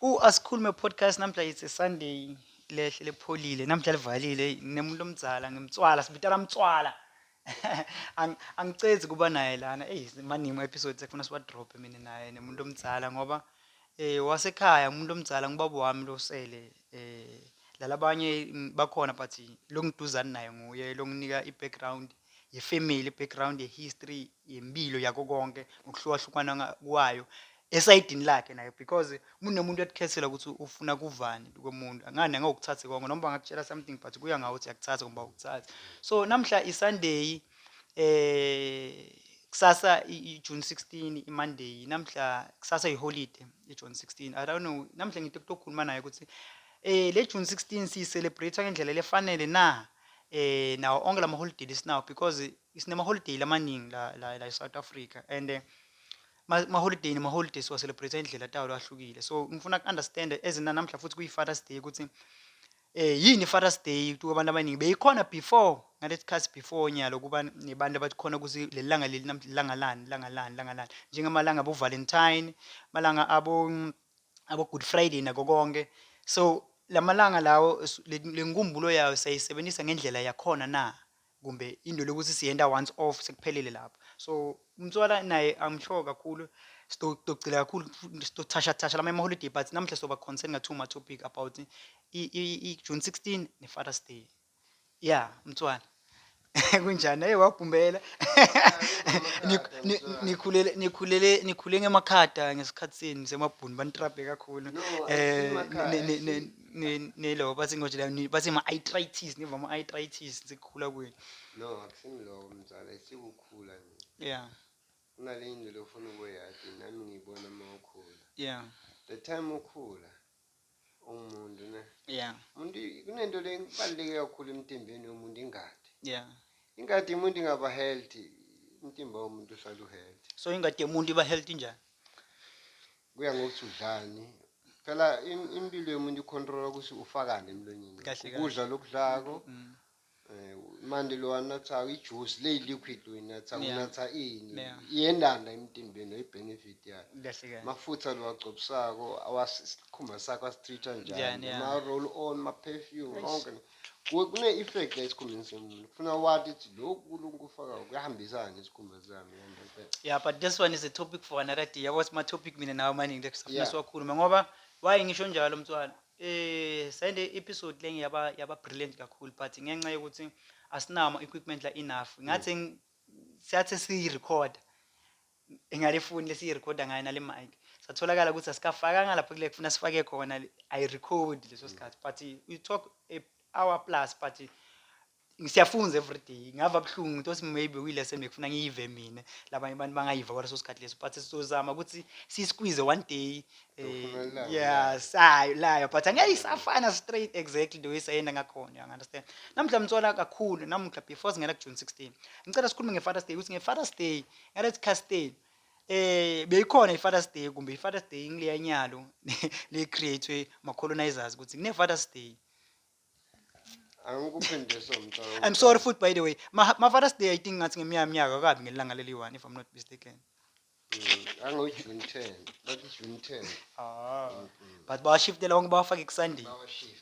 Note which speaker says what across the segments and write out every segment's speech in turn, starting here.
Speaker 1: Ku Asikhulume Podcast namuhla it's a Sunday lehle lepholile namuhla livalile eyi nginemuntu omdzala ngimtswala sibitala mtswala Ang- angicezi kuba naye lana eyi maningi ama episodes ekufuna siwa drop mina naye nemuntu omdzala ngoba eh wasekhaya umuntu omdzala ngubaba wami losele eh lalabanye mm, bakhona but longiduzani naye nguye longinika i background ye family background ye history yempilo yakho konke ngokuhlukahlukana nga- kwayo esayidini lakhe naye because uma unomuntu ekukhethela ukuthi ufuna kuvani komuntu angani angawukuthathe konke noma bangakutshela something but kuya ngawe ukuthi yakuthatha kumba ukuthathe so namhla isunday eh kusasa i- i- june 16 imonday namhla kusasa iholiday ijune 16 i don't know namhla ngithe kutokhuluma naye ukuthi eh le june 16 siyicelebrate ngendlela lefanele na eh nawo onke lamaholiday lesinawo because Sinamaholiday lamaningi la la la eSouth Africa and eh, ma- maholiday nemaholiday siwa-celebrate indlela tawo ahlukile so ngifuna ku-understand as na namhla futhi kuyi-fathers day ukuthi eh yini i-fathers day kuthiwa abantu abaningi beyikhona before ngalesi sikhathi before nyalo kuba nebantu abathi khona ukuthi leli langa leli nam- langa lani langa lani langa lani njengamalanga abo-valentine malanga abo mm, abo-good friday nako konke so lamalanga lawo s- le le nkumbulo yayo siyayisebenzisa ngendlela yakhona na kumbe into lokuthi siyenta once off sekuphelile lapho so umntwana naye i'm sure kakhulu sitogcila kakhulu sitothashathasha lama ema-holiday but namhla soba concern nga-two ma-topic about i-june 16 ne-fathers day ya mntwana kunjani eye wabhumbela nikhulele nikhulele nikhule ngemakhada ngesikhathi senu semabhuni banitrabhe kakhulu um nelo bathi ngoje la bathi ma arthritis niva ma arthritis sekukhula kwenu no akusimloko
Speaker 2: mzala sikukhula nje yeah
Speaker 1: kunale
Speaker 2: into lofuna ukuyati nami ngiyibona uma ukhula yeah
Speaker 1: the time
Speaker 2: ukhula umuntu ne yeah umuntu
Speaker 1: kunento
Speaker 2: le kubaluleke kakhulu emtimbeni womuntu ingadi yeah
Speaker 1: ingadi umuntu
Speaker 2: ingaba healthy umtimba womuntu uhlala uhealthy so ingadi yomuntu iba
Speaker 1: healthy njani
Speaker 2: Kuya ngokuthi udlani. Phela im- impilo yomuntu ikhontrola ukuthi ufakane emlonyeni. Kahle, kahle. Ukudla lokudlako. Mm. Eh, manje lo anatha ijuice le liquid uyinatha Yeah. unatha ini Yeah. iyendanda emtimbeni oyibenefit yayo Kahle kahle. mafutha lowagcobisako awasikhumba sakho asitreat-a njani Yeah, yeah. ama-roll on ma-perfume Eish. onke Kune effect esikhumbeni somuntu. Kufuna wathi ukuthi lokhu uNkulunkulu kufaka kuyahambisana nesikhumba sami yena impela. Yeah, but this
Speaker 1: one is a topic for another day. Yabo sima topic mina nawe maningi lethi safuna Yeah. siwakhulume ngoba why ngisho njalo mntwana. Eh sende episode lenge yaba yaba brilliant kakhulu but ngenxa yokuthi asinama equipment la enough. Ngathi ng- siyathi si record. engalifuni lesi recorder ngayo nale mic satholakala ukuthi asikafakanga lapho kule kufuna sifake khona i record leso mm. sikhathi but you talk a hour plus but siyafunza every day ngava buhlungu into othi maybe kuyile sento ngifuna ngiyive mina labanye abantu bangayiva kwaleso sikhathi leso but sizozama ukuthi siyisqueeze one day eh, yeah sayo layo but angeke isafana straight exactly the way sayenda ngakhona you understand namhla mthola kakhulu namhla before singena ku June 16 ngicela sikhulume ngeFathers Day ukuthi ngeFathers Day Eric Castell eh beyikhona iFathers Day kumbe iFathers Day ngileya nyalo le createwe ma colonizers ukuthi kune Fathers Day angikuphendisa mntwana I'm sorry futhi by the way ma, ma Fathers Day I think ngathi ngemiya minyaka kabi ngelanga leli one if I'm not mistaken
Speaker 2: angojuni 10 bathi juni 10 ah
Speaker 1: but bawashiftela wonke bawafake kuSunday bawashift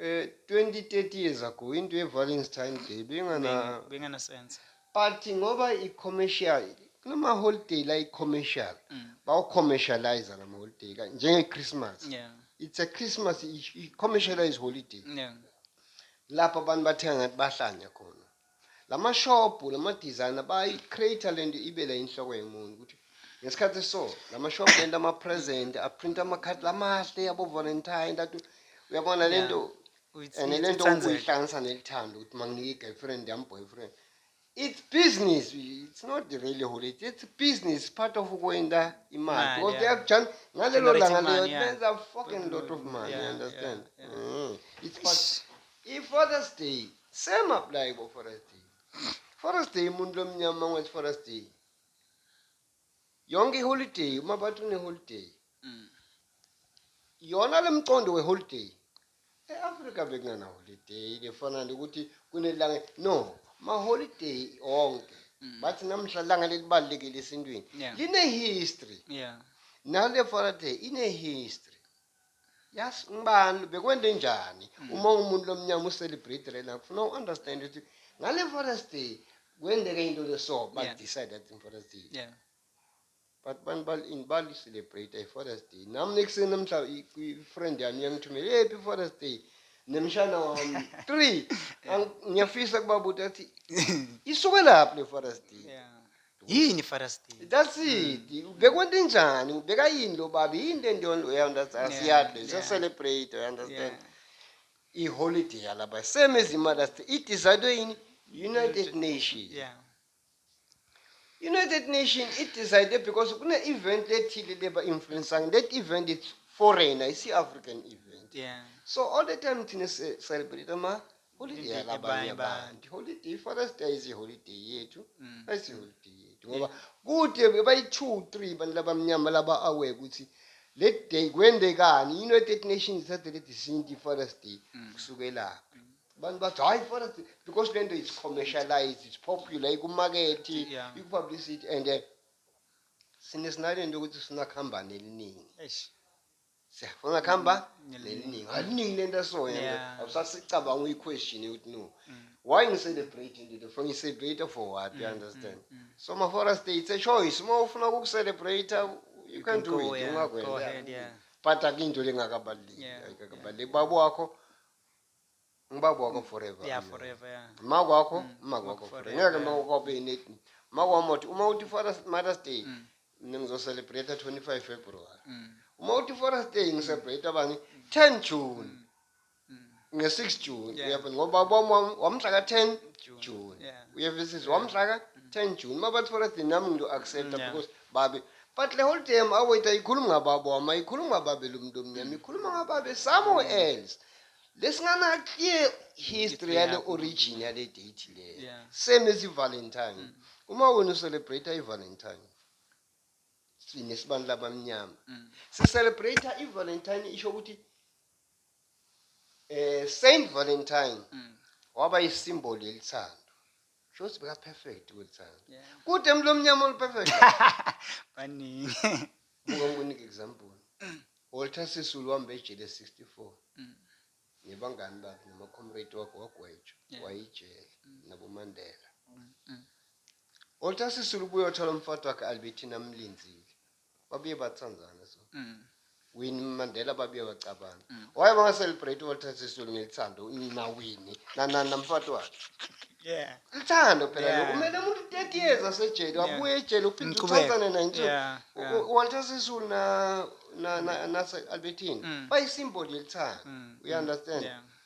Speaker 2: Eh, 20, 30 years ago, into ye-Valentine Day bengana, Beng- Benganasense.
Speaker 1: but ngoba
Speaker 2: i-commercial, kunama-holiday la i-commercial, Mm. bawu-commercialize lama-holiday, ka- njenge-Christmas. Yeah. It's a Christmas, i- i-commercialized holiday. Yeah. Lapho abantu bathenga ngathi bahlanya khona. Lamashobhu nama designer bayi creator lento ibela inhloko yomuntu ukuthi ngesikhathi so lamashobhu lento ama present a print ama card lamahle yabo Valentine that uyabona lento and lento uyihlanganisa nelithando ukuthi manginike girlfriend yam boyfriend it's business it's not really holiday it's business part of ukwenda imali because they have done ngalelo langa leyo benza fucking lot of money you understand mm. it's part if Father's Day Same apply bo Forest Day. Forest Day umuntu lomnyama mangwenza Forest Day. Yonke iholiday uma bathi une holiday. Mm. Yona lemcondo we holiday. E-Africa bekungana holiday lefana nje ukuthi kunelanga no ma holiday onke. Mm. Bathi namhla langa lelibalekile esintwini. Yeah. Line history. Yeah. Nale Forest Day ine history. Yes, ngibani bekwende njani mm. uma umuntu lomnyama ucelebrate lena kufuna uunderstand ukuthi ngale Father's Day kwendeke into leso ba yeah. decide that in Father's Day. Yeah. But bantu bal in bal celebrate i Father's Day. Nami nekuseni namhla i-friend yami iyangithumela, "Hey, happy Father's Day." Nemshana wami 3 ngiyafisa kubabuta ukuthi isuke laphi le Father's Day. Yeah. yini father
Speaker 1: steve that's it
Speaker 2: bekwenta injani ubeka yini lo baba yini le nto yonto uyaunderstand Yeah, siyadle yeah. siyacelebrate uyaunderstand Yeah. iholiday yalaba same as imother's day idesignwe yini united nation yeah united nation idesignwe because kune-event ethile leba-influensang that event is foreigner isi-african event yeah so all the time thina si-celebrate ama Holiday Holiday yabanye yabanye abantu. abantu. Holiday iForest Day isiholiday yethu. Mm. Ayisiholiday yethu ngoba kude bayi 2 3 abantu labamnyama laba aware ukuthi le day kwendekani United Nations thathe le decision to Forest Day Mm. kusukela abantu bathi hayi Forest Day because lento is commercialized it's popular ikumarket Yeah. ikupublicity and eh, sine sinalento ukuthi sinakhambane eliningi Eish. siyafuna akuhamba neliningi aliningi lento asoya yeah. usasicabanga uyi-question yokuthi no mm. why ngi-celebrate into ndifuna ngi-celebrate for what you mm, understand mm, mm. so mafora state it's a choice uma ufuna ukuku-celebrate you can do it ungakwenza but akinto lengakabaluleki ayikakabaluleki baba wakho ngubaba wakho forever ya forever ya ma kwakho mm. ma kwakho forever ngeke ma kwakho be net ma kwakho mothi uma uthi forest mother's day mm. mina ngizocelebrate 25 february mm. uma uthi forest day ngicelebrate abanye 10 june nge-6 june uyabona ngoba bom wamhla ka-10 june uyevisisa wamhla ka-10 june uma bathi forest day nami ngiyo-accepta because babe but le whole time awethu ayikhulumi ngababa wami ayikhulumi ngababeli umuntu omnyama ikhuluma ngababe somewhere else Lesingana clear history yale origin yale date le. Yeah. Same as iValentine. Mm. Uma wena ucelebrate iValentine. Sine sibani labamnyama. Mm. Si celebrate iValentine isho ukuthi eh Saint Valentine mm. waba isimboli elithando. Shothi beka perfect kweli thanga. Kude emlo omnyama olu perfect. Baningi.
Speaker 1: Buka
Speaker 2: ngikunike example. Walter Sisulu wambe ejele 64. Mm. Nebangani bakhe noma comrade wakhe wagwetshwa yeah. wayijele mm. nabo Mandela. Mm. mm. Walter Sisulu buye othola umfati wakhe Albertina amlinzile. babuye batsandzane so wini mandela babuye bacabane why bangaselebrate walter sisulu ngelithando nawini nanani namfati wakhe yeah lithando phela Yeah. lokhu kumele umuntu 30 years asejele wabuye ejele uphinde Ngiqhubeke. uthathane naye nje Yeah, U- yeah. U- walter sisulu na na- na- nase-albertine Mm. bayisimboli yelithando Mm, uyaunderstand yeah.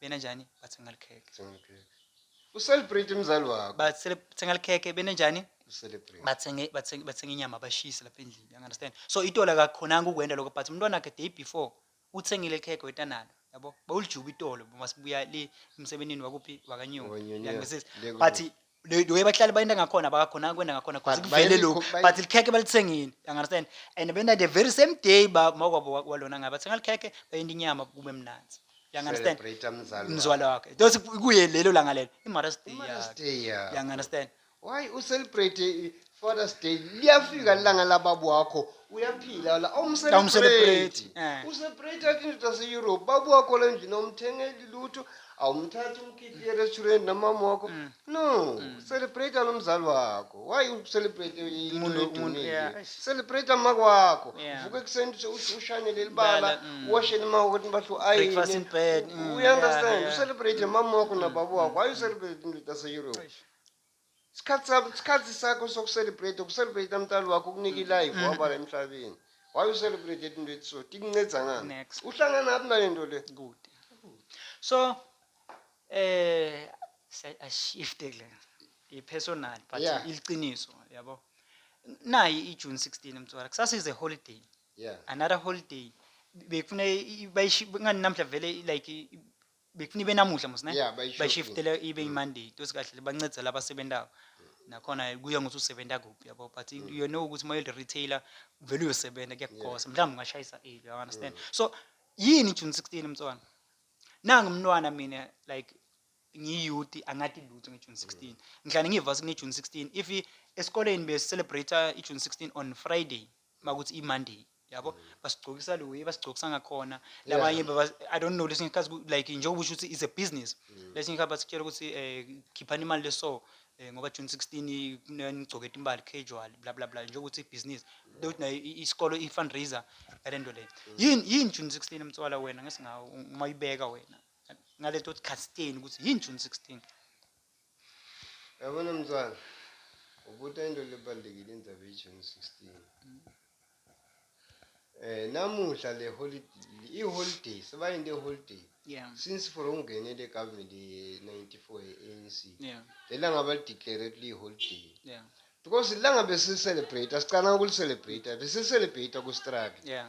Speaker 1: benenjani bathenga
Speaker 2: likhekhe Thenga ikhekhe. Ucelebrate umzali wakho. bathenga likhekhe
Speaker 1: benenjani Ucelebrate. bathenge bathenge bathenge inyama bashise lapha endlini you understand so itolo akakhonanga ukwenda lokho but umntwana wakhe day before uthengile ikhekhe wetanalo yabo bawulijuba itolo uma sibuya le emsebenzini wakuphi wakanyoni Wakanyoni, yeah. uyangizisa Le kubo. but the way bahlale bayinda ngakhona bakakhona kwenda ngakhona But because kuvele lokhu bayalikho- but
Speaker 2: likhekhe
Speaker 1: balithengile you understand and benda the very same day ba makwabo wa- walona ngabe bathenga likhekhe bayinda inyama kube mnanzi you understand Celebrate umzali mzwala
Speaker 2: wakho. wakhe those
Speaker 1: kuye lelo langa lelo imother's day Mother's yakhe. Day yakho. you understand Why u celebrate
Speaker 2: Father's Day liyafika lilanga lababa wakho uyaphila la Awumselebrate. awumselebrate
Speaker 1: eh. usebrate
Speaker 2: athi indoda ase-europe baba wakho la endlini awumthengeli lutho awumthathi umkhiphi erestaurant namama wakho Mm. no celebrate nomzali wakho why ucelebrate into Umuntu- umuntu, edumile yeah,
Speaker 1: eish.
Speaker 2: celebrate
Speaker 1: amaka
Speaker 2: wakho Yeah. vuka ekuseni uthi-
Speaker 1: uthi
Speaker 2: ushane leli bala Bala, mm. uwashe lemaka ukuthi bahle Breakfast in bed,
Speaker 1: mm, uyi-understand yeah, yeah.
Speaker 2: ucelebrate mama
Speaker 1: wakho
Speaker 2: nababa wakho why ucelebrate indoda ase-europe Eish. Isikhathi sabo, isikhathi sakho soku celebrate, uku celebrate umtali wakho ukunike ilife wabala emhlabeni. Why u celebrate into ethi so? Tikunceda ngani? Next. Uhlangana naphi
Speaker 1: nalento
Speaker 2: le? Kude.
Speaker 1: So eh say a shift kule. I personal but Yeah. iliqiniso
Speaker 2: yabo.
Speaker 1: Nayi i June 16 mtswara. Kusasa is a holiday. Yeah. Another
Speaker 2: holiday.
Speaker 1: Bekufuna i- i- bayishi ngani namhla vele i- like i- bekufuneka ibe namuhla mos ne Yeah, bayishiftile.
Speaker 2: bayishiftele ibe imonday
Speaker 1: tosikahle bancedisa la basebentako nakhona kuya ngokuthi usebenza kuphi yabo but you know ukuthi uma uyi-retailer vele uyosebenza kuyakugosa mhlawumbe ungashayisa eli you understand so yini june 16 mntwana nangu mntwana mina like ngiyiyouth angathi lutho ngejune 16 ngihlale ngiyivasi kunejune 16 if i- esikoleni besicelebrate ijune 16 on friday makuthi imonday yabo basigcokisa le way basigcokisa ngakhona labanye baba- i don't know lesinye isikhathi ku- like njengoba usho ukuthi is a business lesinye isikhathi basitshela ukuthi um khiphani imali leso um ngoba june sixteen nigcoke timbali casual bla bla bla njengokuthi ibhizinisi lokuthi nayo i- isikolo i-fundraiser ngale nto leyo yini yini june sixteen mtswala wena ngesingawo uma uyibeka wena ngale nto yokuthi khasiteni ukuthi yini june sixteen Yabona
Speaker 2: mntwana, ubuta into lebalulekile indaba ye-June 16. Eh namuhla le holiday i-holiday sebayinde holiday Yeah. since for
Speaker 1: ungene
Speaker 2: le government ye-94 ye-ANC. Yeah. Lelanga
Speaker 1: balideclare
Speaker 2: ukuthi liyi-holiday. Yeah. Because
Speaker 1: ilanga
Speaker 2: besicelebrate, sicala ukulicelebrate, besicelebrate ku-struggle. Yeah.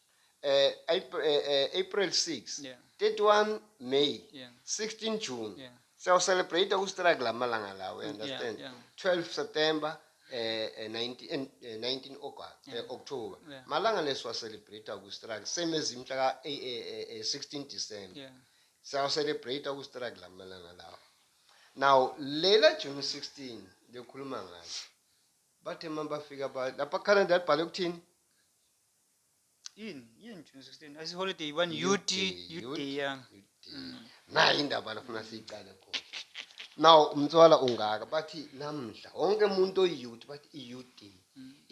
Speaker 2: eh, eh, eh, April 6 yeah. 31
Speaker 1: May
Speaker 2: yeah. 16
Speaker 1: June
Speaker 2: yeah. siyawucelebrate ustrike la malanga lawo mm, understand yeah, yeah. 12
Speaker 1: September
Speaker 2: eh, eh 19 eh, 19 eh, August yeah. eh, October yeah. malanga
Speaker 1: lesiwacelebrate
Speaker 2: ustrike same ezimhla ka eh, eh, eh, 16 December yeah.
Speaker 1: siyawucelebrate
Speaker 2: ustrike la malanga lawo now lela June 16 lekhuluma ngayo bathe mabafika lapha Canada libhale ukuthini yini
Speaker 1: yini june 16 ayisi holiday one ut ut ya
Speaker 2: nayo indaba lafuna siyiqale khona now umtswala ungaka bathi namhla wonke umuntu oyiyouth bathi i-ud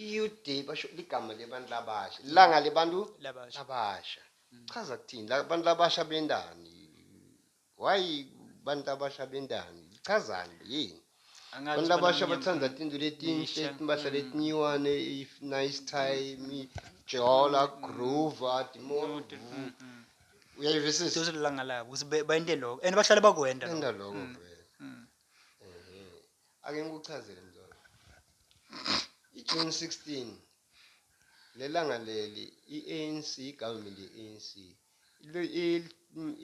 Speaker 2: i-ud basho ligama lebantu labasha ilanga lebantu Labasha. labasha chaza kuthini labantu labasha bendani Why bantu abasha bentani? Lichazani le yini? Angathi Bantu abasha baneminyaka- bathanda tinto letinhle, Lisha. timpahla Mm. letinyiwane, if nice time, jola, groova, timo. Note, mm, mm. Uyayivisisa? Those lilanga labo
Speaker 1: ukuthi be- bayente lokho and bahlale bakwenda lokho. Enda lokho Mm, vele. mm.
Speaker 2: Ehe. Ake ngikuchazele mzala. I-June 16 lelanga leli i-ANC government ye-ANC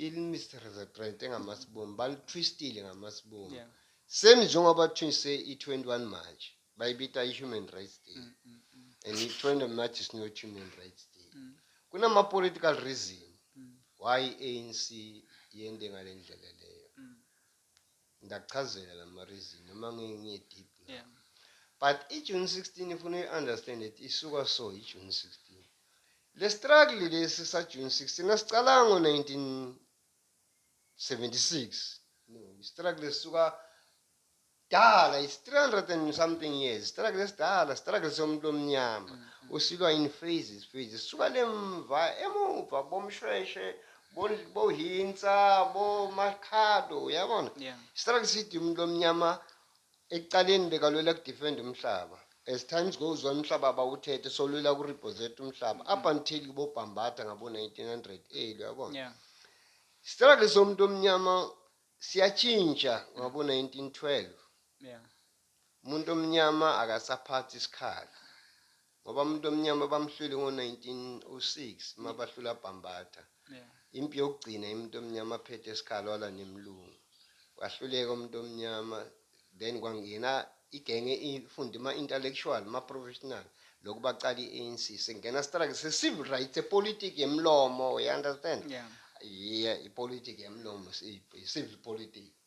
Speaker 2: ilimirepresente ngamasibumbu balitwistile ngamasibumbu yeah. same
Speaker 1: njengoba
Speaker 2: twinse i-21 manje bayibita i-human rights day mm, mm, mm. and i-20 march is not human rights day mm. kunama-political reason mm. why i-anc yende ngale ndlela leyo mm. Ndakuchazela nama reason noma ngeke ngiye deep now. Yeah.
Speaker 1: But i
Speaker 2: June 16 ifuna uyi understand that isuka so i June 16. Le struggle lesi sa June 16 asicalanga ngo 1976. No, i struggle esuka dala it's 300 and something years struggle esidala struggle somuntu omnyama mm, mm. usilwa in phases phases suka lemva emuva bomshweshe bo bo hinsa bo makhado yabona yeah. struggle sithi umuntu omnyama ekuqaleni bekalwela kudefend umhlaba as times goes on umhlaba abawuthethe solwela kureposet umhlaba mm. up until kubobhambatha ngabo-1900 elu yabona yeah.
Speaker 1: struggle
Speaker 2: somuntu omnyama siyatshintsha ngabo-1912 yeah.
Speaker 1: Umuntu
Speaker 2: omnyama akasaphathi isikhala ngoba umuntu omnyama bamhlwile ngo 1906 uma bahlula Bhambatha. Impi
Speaker 1: yokugcina
Speaker 2: umuntu omnyama aphethe isikhala wala nemlungu. Wahluleka umuntu omnyama then kwangena igenge ifunde ma intellectual ma professional lokhu baqala iANC sengena struggle se civil rights a politics yemlomo you understand? Yeah.
Speaker 1: Yeah,
Speaker 2: ipolitics yemlomo civil politics.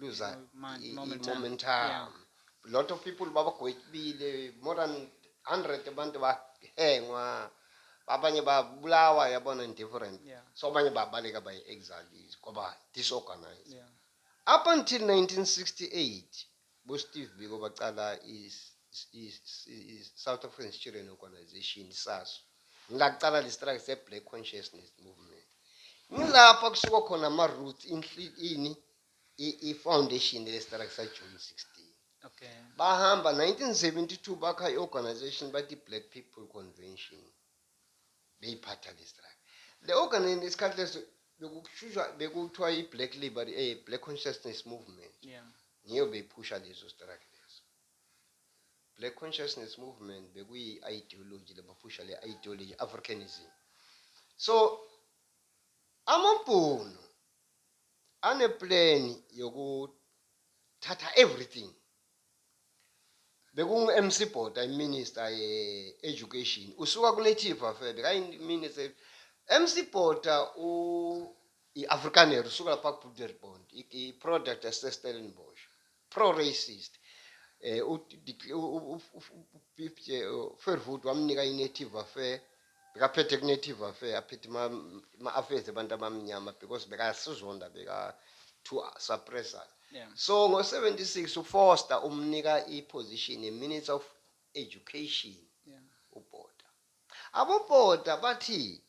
Speaker 2: lose uh, momentum
Speaker 1: lot of
Speaker 2: people babagwetshibile more than 100 abantu bahengwa abanye babulawa yabona in different yeah. so abanye babaleka by exiles kwaba disorganized yeah.
Speaker 1: up until 1968
Speaker 2: bosteve biko bacala i-south african student organization saso ngaqala le struggle se-black consciousness movement ngilapha kusuka khona ama-roots ini i-foundation le struggle sajuni 16 okay.
Speaker 1: bahamba 1972
Speaker 2: bakha i-organization bathi black people convention beyiphatha le struggle le organization isikhathi leso bekushusha bekuthiwa i-black liberty eh, black consciousness movement yeah. ngiyo
Speaker 1: beyiphusha
Speaker 2: leso struggle leso Black Consciousness Movement bekuyi ideology labafusha le ideology Africanism so amabhunu ane plan yoku thatha everything bekungu MC Bota iminister ye education usuka ku native affair bekayi minister MC Bota u i Afrikaner usuka lapha ku Broederbond i product yase Stellenbosch pro racist eh u Fairwood wamnika i native affair bekaphethe ku native affair aphethe ma, ma affairs abantu abamnyama because bekasizonda beka to suppress us yeah. so ngo 76 u Foster umnika i position a minister of education yeah.
Speaker 1: ubhoda
Speaker 2: abobhoda bathi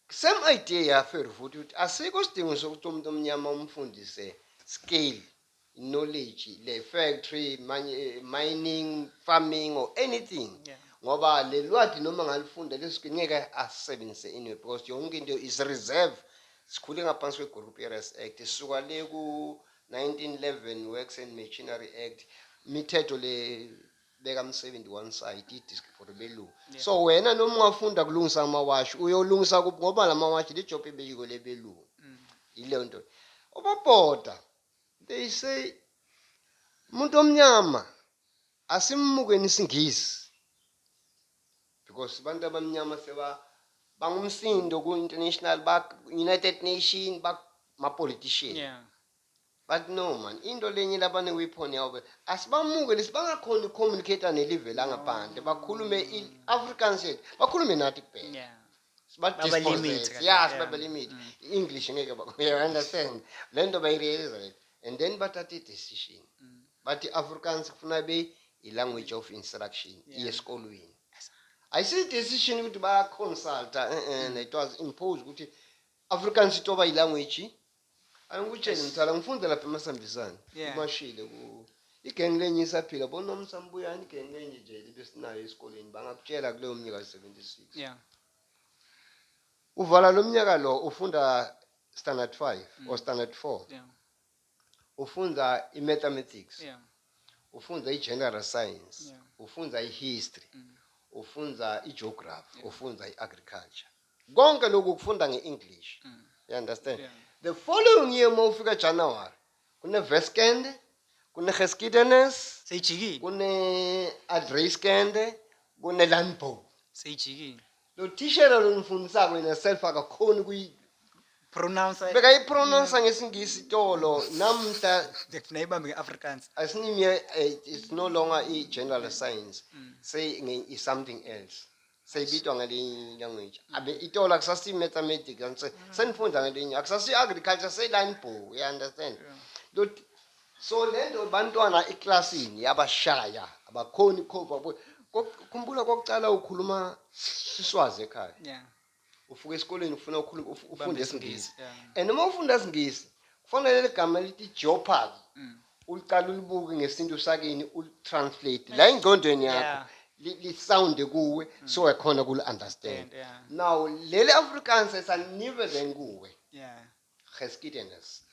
Speaker 2: Same idea yaFeru futhi ukuthi asikho isidingo sokuthi umuntu omnyama umfundise skill, knowledge, le factory, mining, farming or anything. Yeah. Ngoba
Speaker 1: le lwadi
Speaker 2: noma ngalifunda leso skill ngeke asisebenzise anyway because yonke into is reserve. Sikhule ngaphansi kwe-Group Areas Act, sisuka le ku-1911 Works and Machinery Act, imithetho le beka msebenzi one side idisk for belungu Yeah. so wena noma ungafunda kulungisa amawashi uyolungisa kuphi ngoba lamawashi le job ebeyiko lebelungu Mm. yileyo nto obabhoda they say umuntu omnyama asimukeni isingisi because abantu abamnyama seba bangumsindo ku-international ba-united nation bamapolitician Yeah.
Speaker 1: But no
Speaker 2: man, into lenye laba ne weapon yabo be- asibamuke lesi bangakhona u communicator ne live langaphandle bakhulume i Afrikaans yethu bakhulume nathi kuphela. Yeah.
Speaker 1: Siba Baba limit
Speaker 2: dispossess. kanje, Yeah, yeah. siba limit. Mm. I English ngeke ba you understand. Lento bayi realize right. And then bathatha i decision. Mm. Bathi Afrikaans kufuna be i language of instruction Yeah. iye esikolweni. Ayisi decision ukuthi baya consulta eh eh it was imposed ukuthi Afrikaans itoba i language Angikutsheni mthala ngifunda lapha emasambisane Yeah. umashile ku igengi lenye isaphila bonomsa mbuyani igengi lenye nje libesinayo esikoleni bangakutshela kuleyo mnyaka 76 Yeah.
Speaker 1: uvala
Speaker 2: lo mnyaka lo ufunda standard 5 or standard 4 Yeah.
Speaker 1: ufunda
Speaker 2: i-mathematics Yeah.
Speaker 1: ufunda
Speaker 2: i-general science Yeah. ufunda
Speaker 1: i-history
Speaker 2: Mm. ufunda i-geography Yeah. ufunda i-agriculture konke lokhu ukufunda nge-english mm. you understand yeah. the following
Speaker 1: year
Speaker 2: uma ufika january kuneveskende kunegeskidenes seyijikile
Speaker 1: kune-adreyskende
Speaker 2: kune-landbow seyijikile lo thishela lonifundisako yena self akakhoni
Speaker 1: pronounce beka ipronounce
Speaker 2: ngesingisi itolo namhla ngifuna ibambe
Speaker 1: ngeafrikaans asinimye eh,
Speaker 2: it's no longer i-general science mm. say is something else se e bitswa ngelinye language abe itolo akusasiyo i-mathematics and se- senifunda ngelinye akusasiyo i-agriculture seyilanibhoo you understand Lot so le nto bantwana eklasini yabashaya abakhoni khova khumbula kokucala ukhuluma siswazi ekhaya yeah
Speaker 1: ufuka esikoleni
Speaker 2: ufuna ukhuluma uf- ufunde Bambe isingisi, isingisi yeah. and uma ufunda isingisi kufanele ligama lithi jeopardy Mm. uliqala ulibuke ngesintu sakini ulitranslate la engqondweni yakho Yeah. li- lisounde kuwe so ekhona kuli understand Stand, yeah. now leli afrikaans esanibe then kuwe Yeah.
Speaker 1: geskiedenis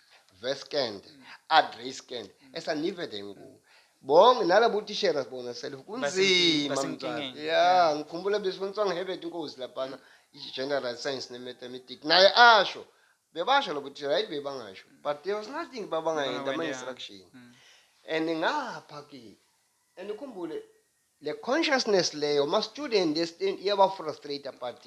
Speaker 2: veskend adreskend esanibe then kuwe bonke nalabo tishera sibona self kunzima basenkingeni, mntwana. yeah ngikhumbula besifundiswa ngehebert inkosi laphana i-general science ne-mathematics naye asho Bebasho lokho ukuthi right bebangasho but there was nothing babangayenda ama Bangawendanga. instruction Mm. and ngapha ke and ukhumbule le consciousness leyo ma student e stand iyaba frustrate but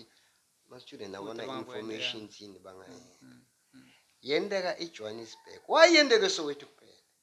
Speaker 2: ma student abona Ukuthi abangakwenza, information thini bangayenza Mm. Mm. yendeka eJohannesburg wayendeke soweto kuphela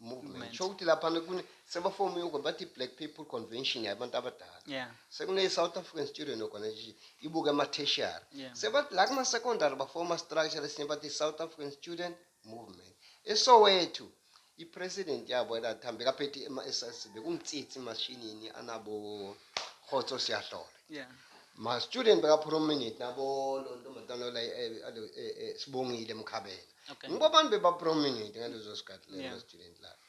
Speaker 2: movement sho ukuthi laphana kune sebafome yoko bathi black people convention yabantu abadala yeah. sekune-south
Speaker 1: african
Speaker 2: student organization ibuke ama-tertiary yeah. sebathi la
Speaker 1: kuma-secondary
Speaker 2: bafoma structure lesinye bathi south african student movement esowethu i-president yabo elathambe kaphethe ema-ss bekumtsitsi emashinini anabo khotso siyahlole yeah.
Speaker 1: ma-student
Speaker 2: bekaprominate nabo lontombazana eh, eh, eh, sibongile mkhabela Okay. Ngoba abantu bebaprominent ngalezo sikhathi lezo Yeah. student life.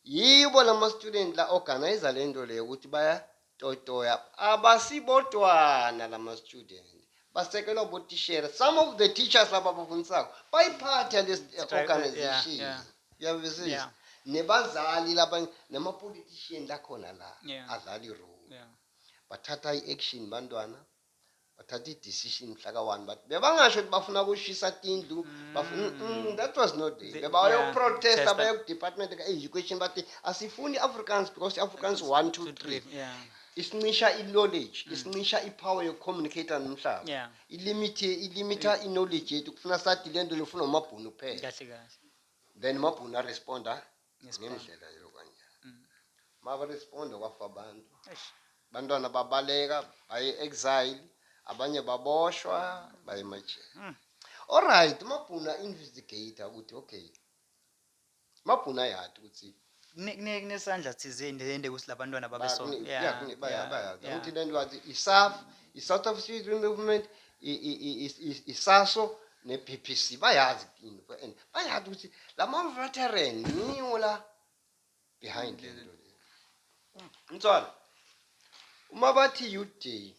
Speaker 2: Yibo lama student la organize le nto leyo ukuthi bayatotoya abasibodwana lama student. Basekelwa botishera. Some of the teachers laba abafundisako bayiphatha le Strike, organization. yeah, yeah. Uyabizisa. Yeah. Nebazali laba nama politician lakhona la Yeah. adlala irole. Yeah. bathatha i-action bantwana bathatha i-decision mhla ka-one but bebangasho ukuthi bafuna kushisa tindlu bafuna- Mm. Mm, that was not there The- bebayoprotesta yeah, baye kudepartment ka-education bathi asifuni i-afrikaans because i-afrikaans one two three Yeah, isincisha i-knowledge isincisha i-power yokucommunicata nomhlaba Mm. yeah. ilimit ilimitha i-knowledge yethu kufuna sathi le nto lifuna umabhunu kuphela Kahle kahle.
Speaker 1: then umabhunu
Speaker 2: aresponda ngendlela yokwanyana maba responda kwafa abantu bantwana babaleka baye exile abanye baboshwa baye emajele hmm. alright mabhuna investigator ukuthi okay mabhuna yadi ukuthi kunesandla
Speaker 1: thizeni lende ukuthi labantwana babesona yeah
Speaker 2: ukuthi lento wathi isaf i-south african movement isaso ne-bbc bayazi into and bayazi ukuthi la ma-veteran niwo la behind le nto le mntwana uma bathi youth day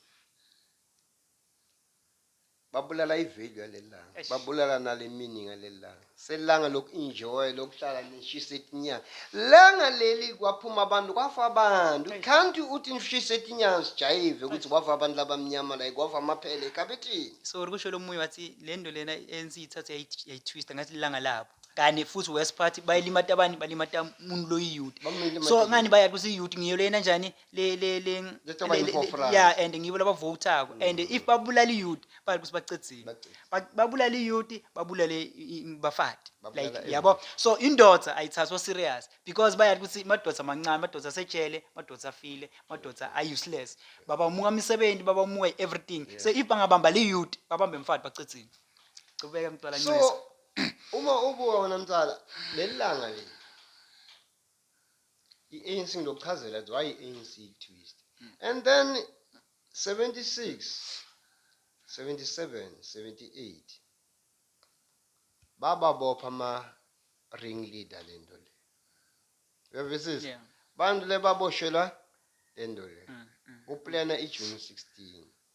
Speaker 2: babulala ivalue yaleli langa babulala nale meaning yaleli langa selanga loku enjoy lokuhlala nishisa etinyanga langa leli kwaphuma abantu kwafa abantu can't uthi nishisa etinyanga sijayive ukuthi kwafa abantu labamnyama la kwafa amaphele ekhabethini so kusho lo munye
Speaker 1: wathi le nto lena ANC ithathe yayi- yayitwista ngathi lilanga labo kanti futhi worst part bayilimata abani balimata umuntu loyiyuti Bamlimata so ngani bayati ukuthi iyuti ngiyo lena njani le le le Just over le- you le- for le- France. yeah and ngibo labavotako and if babulala iyouth bali ukuthi bacedzile Bacedzile. Ba- babulala iyouth babulale i- i- bafati Babulala like yabo so indoda ayithathwa serious because bayati ukuthi madoda amancane madoda asejele madoda afile madoda a-useless babamuka imisebenzi babamuka i-everything so if bangabamba le youth babambe mfati bacedzile cubeka mntwala ncisa so uma
Speaker 2: ubuka wena mtala leli langa leli I-ANC ngiyokuchazela ukuthi why i-ANC twist. And then 76 77 78 bababopha ama ring leader lento le. Uyavisisa? Yeah. Bantu
Speaker 1: lebaboshelwa
Speaker 2: lento le. Mm, mm. Uplana iJune 16.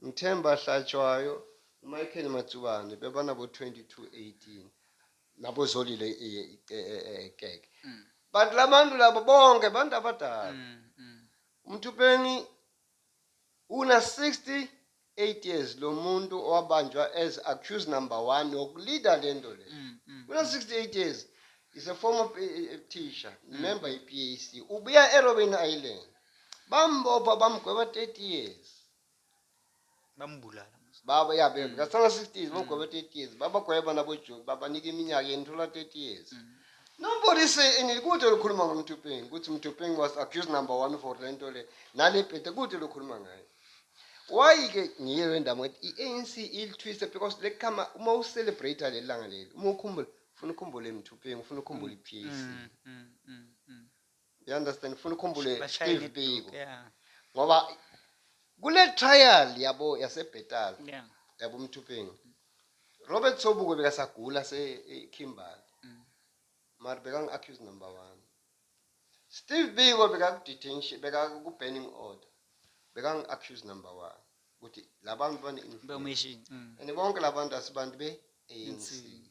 Speaker 2: Mthemba Hlatshwayo, uMichael Matsubane bebanabo-2218 naboZolile Keke. But labantu labo bonke bantu abadala. UMthupeni una 68 years lomuntu owabanjwa as accused number one wokuleader lento le. Una 68 years. Is a former teacher, member iPAC. Ubuya eRobben Island. Bambopha bamgweba 30 years.
Speaker 1: bambulala baba ya
Speaker 2: bebe kasala 60 years bagweba 30 years babagweba nabojoki babanika iminyaka yenu thola 30 years Nobody say anything kude lokhuluma ngomthupeng ukuthi umthupeng was accused number 1 for lento le nale bhete kude lokhuluma ngayo why ke ngiye random ukuthi iANC ilithwise because lekhama uma ucelebrate lelanga leli uma ukhumbula ufuna ukhumbule emthupeng ufuna ukhumbule iPAC you understand ngifuna ukhumbule Bashayela Steve iduku, Biko yeah, ngoba kule trial yabo yaseBetal yeah. yabo Mthupeni Robert Sobuko bekasagula se e- Kimberley Mm. mara bekangi accuse number 1 Steve Biko bekaku detention bekaku banning order bekangi accuse number 1 ukuthi labantu bane influence Beumeshi. Mm. and bonke labantu asibantu be ANC Insini.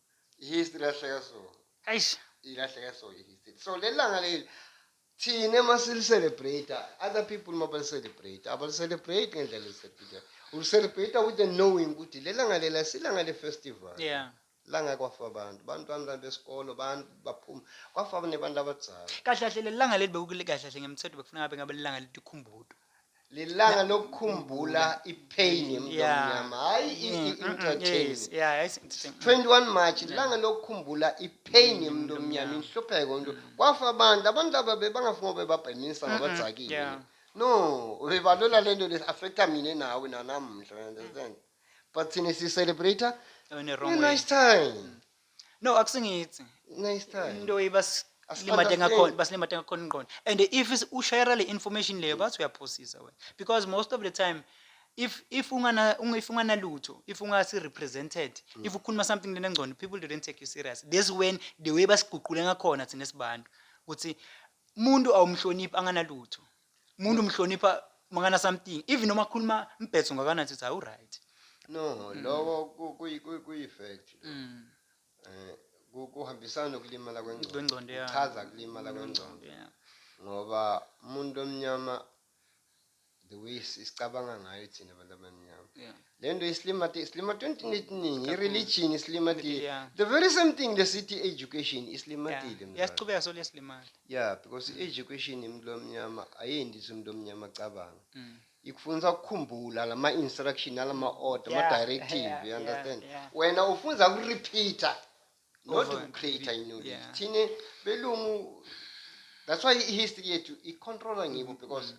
Speaker 2: ihistory ilahleka so eish ilahleka so ihistory so lelanga leli thina uma silicelebrate other people uma balicelebrate abalicelebrate ngendlela elisebhida ulicelebrate with the knowing ukuthi lelanga lela silanga le-festival yeah langa kwafa abantu bantwana besikolo abantu baphuma kwafa nebantu abadzala kahle kahle lelanga leli
Speaker 1: bekukulikahle kahle ngemthetho bekufuneka ngabe ngabe lelanga letikhumbuto lilanga
Speaker 2: lokukhumbula ipain yemntu Yeah. omnyama hayi i- Mm, i- mm, mm, entertain yes, yeah, hayi si- si- mm. 21 march lilanga lokukhumbula ipain yemntu omnyama omnyama. inhlupheko umntu kwafa abantu abantu aba bebangafuni ngoba bebabhenisa ngabadzakile yeah. no bebalola le nto liaffecta mina nawe nanamhla you understand but thina sicelebrate When you're wrong way. nice time no
Speaker 1: akusingithi Next time. into ibas Asi- limade
Speaker 2: ngakhona
Speaker 1: understand. basilimade ngakhona ingqondo and if is- ushayela le information leyo bathi uyaphosisa wena because most of the time if if ungana unga- if unganalutho if ungasi represented Mm. if ukhuluma something lenengcondo people didn't take you serious this when the way basiguqule ngakhona thina sibantu ukuthi umuntu awumhloniphi anganalutho umuntu umhlonipha mangana something even noma khuluma mbhetho ngakanani sithi hawu right no mm. lowo
Speaker 2: kuyi-fact mm. eh, kuhambisana nokulimala kwengqondo kuchaza kulimala kwengqondo ngoba umuntu omnyama the way sicabanga ngayo thina abantu abamnyama Le nto isilimati isilimati entini etiningi ireligion isilimatile Yeah. the very same thing lesithi education isilimatile Yeah. mzala. Iyasichubeka solo
Speaker 1: yesilimali. yeah because
Speaker 2: i-education yomuntu omnyama ayendisi umuntu omnyama acabanga Mm. ikufundisa ukukhumbula lama instruction alama order Yeah, ama directive yeah, you understand yeah, yeah. wena ufunza ku repeater not Over and create repeat, knowledge yeah. thine belungu that's why i history yethu i controller ngibo because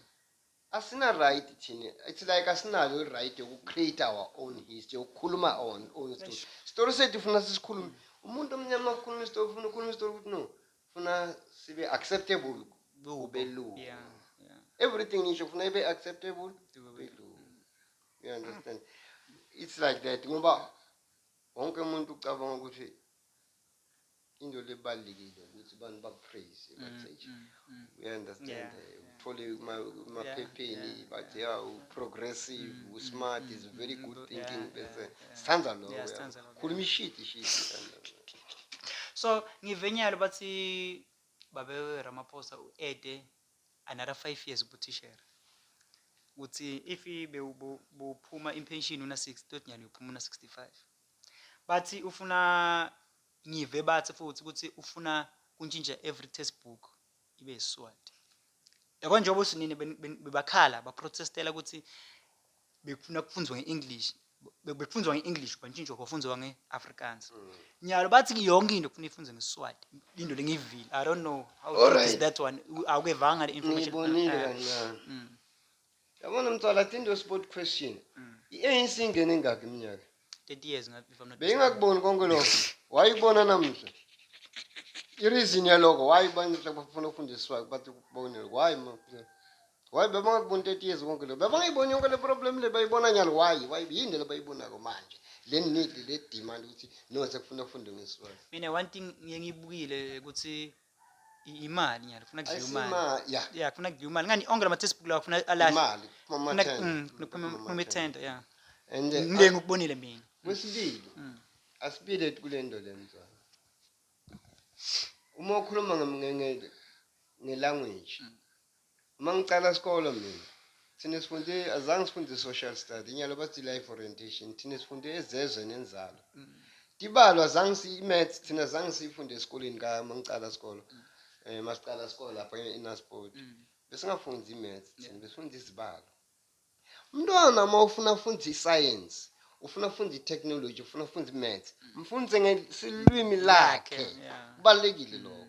Speaker 2: Asina right thina it's like asinayo i right yoku create our own history yokukhuluma our own story. Story sethu ufuna sisikhulume. Umuntu omnyama ukhuluma story ufuna ukhuluma story ukuthi no ufuna sibe acceptable kubelungu. Yeah. Yeah. Everything ngisho ufuna ibe acceptable kubelungu. You understand? It's like that ngoba wonke umuntu ucabanga ukuthi Into le ebalulekile ukuthi abantu baku praise Mm, bathi eish mm, mm. uya understand Yeah, eh, yeah, uthole yeah, kuma- yeah, kumaphepheni yeah, bathi yeah, yeah, u yeah. progressive Mm, u mm, smart mm, is a very mm, good mm, thinking yeah, bese yeah, yeah. sithanda lokho Yeah, yabo. sithanda lokho, khuluma yeah. ishiti ishiti
Speaker 1: so ngive nyalo bathi babe ramaphosa u-ede another five years ubutishera ukuthi if i- bewu- bu- buphuma impenshini una-six toti nyalo uyophuma una-sixty-five bathi ufuna Ngive bathi futhi ukuthi ufuna kuntshintsha every test book ibe isiswati. Yabo njengoba usinini ben- ben- bebakhala baprotestela ukuthi bekufuna kufunzwa nge-english be- bekufundwa nge-english kwantshintshwa kwafunzwa nge-afrikaans nyalo bathi yonke into kufuna ifunze ngesiswati into lengiyivile i don't know how true is Alright. that one U- awukevanga le information ngiyibonile Ah, ah. kancane
Speaker 2: Mm. Yabona mtsala, I think your sport question. I-ANC ingene engakhi iminyaka? 30 years ngathi if I'm
Speaker 1: not Beyingakuboni konke lokho.
Speaker 2: Wayibona namuhla. I-reason yaloko why bantle bafuna ukufundiswa bathi kubonile. Why ma? Why bebangakuboni 30 years konke lokho? Bebangayiboni yonke le problem le bayibona nyalo why? Why yini le bayibonako manje? Le need le demand ukuthi no sekufuna ufunde ngeswazi. mina one thing ngiye
Speaker 1: ngiyibukile ukuthi imali nyalo kufuna kudliwa imali Ayisima- ya. ya kufuna kudliwa imali ngani onke lama-textbook lawa kufuna alahle imali kuphuma Kufuna- amathenda. mm,
Speaker 2: kufuna kuphuma
Speaker 1: Kuphuma kuphuma amathenda. ithenda ya And, eh, mndeni
Speaker 2: ukubonile
Speaker 1: mina a- kwesibili
Speaker 2: Mm. asibile kule nto le mzwana uma ukhuluma nge- nge- nge- ngelanguage Mm. Uma ngiqala isikolo mina thina sifunde azange sifunde social study inyalo bathi life orientation thina sifunde ezezwe nenzalo mm. tibalo azange si maths thina azange sifunde esikoleni ka mangiqala isikolo mm. eh masiqala isikolo lapha eNasport mm. besingafundi imaths thina besifunda izibalo Umntwana uma ufuna afunde isayensi ufuna afunde itechnology ufuna afunde imaths mfundise ngesilwimi lakhe kubalulekile mm. lokho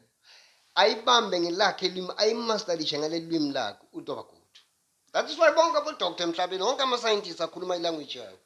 Speaker 2: ayibambe ngelakhe ilwimi ayimastalishe ngaleli lwimi lakhe utoba good that is why bonke abodoktor emhlabeni wonke amasayentist akhuluma ilanguage yakho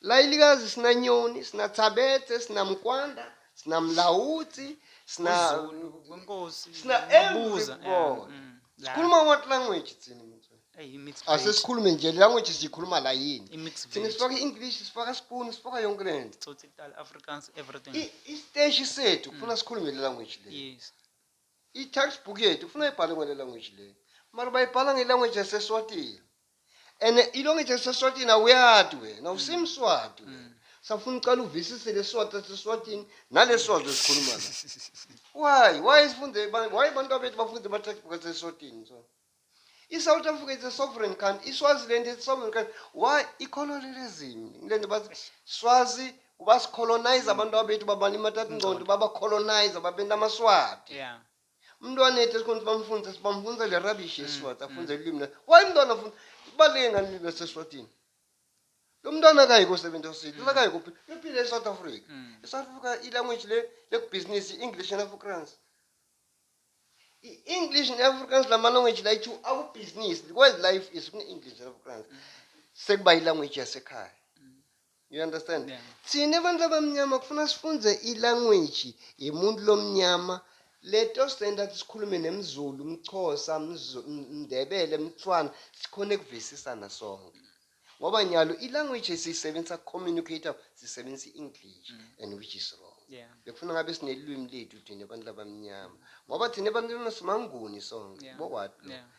Speaker 1: Layilikazi
Speaker 2: sina Nyoni, sina Thabethe, sina Mkwanda, sina Mlawutsi, sina Zulu, kwenkosi.
Speaker 1: sina Mabuza,
Speaker 2: yeah, everybody. mm, yeah. Sikhuluma what language thina mfethu? Eyi, i-mixed veg. Asesikhulume nje language siyikhuluma la yini? I-mixed Thina veg. sifaka i-English, sifaka spoon, sifaka yonke le nto. Tsotsi kudala, Afrikaans,
Speaker 1: everything. I- Isiteshi sethu
Speaker 2: kufuna sikhulume le language le.
Speaker 1: Yes. I-textbook
Speaker 2: yethu kufuna ibhalwe ngale language le. Mara bayibhala nge-language yaseSwatini. and ilonge ithi eseswatini awuyati wena usimswati wena mm. safuna ucala uvisise lesiswati saseswatini nalesiswati esikhuluma la why why sifunde why abantu abethu bafunde ama-textbook aseswatini so i-south africa is a sovereign country iswaziland is a sovereign country why icolonialism le nto bathi swazi basicolonize abantu abethu babantu imatata ingcondo babacolonize babenta amaswati yeah.
Speaker 1: Umntwana ethi esikhona
Speaker 2: ukuthi bamfundise sibamfundisa le rubbish yesiSwati mm, afunde mm. ulimi lakhe. Why umntwana afunda ibaluleke ngani ulimi lwaseSwatini? Lo mntwana akayi kosebenza osidi, mm. akayi kuphila. Uyophila eSouth Africa. ESouth Africa i-language le lekubhizinisi i-English and Afrikaans. I-English and Afrikaans lama language la ithu akubhizinisi. World life is kune-English and Afrikaans. Sekuba i-language yasekhaya. You understand? Yeah. Thina bantu abamnyama kufuna sifunze i-language yemuntu lomnyama leto senta sikhulume nemzulu mxhosa mndebele mthwana sikhona ekuvisisana sonke ngoba nyalo i-language esiyisebenzisa communicator sisebenzisa i-english mm. and which is wrong yeah. bekufuna ngabe sinelwimi lethu thina abantu labamnyama ngoba thina abantu simanguni sonke yeah. bowat yeah.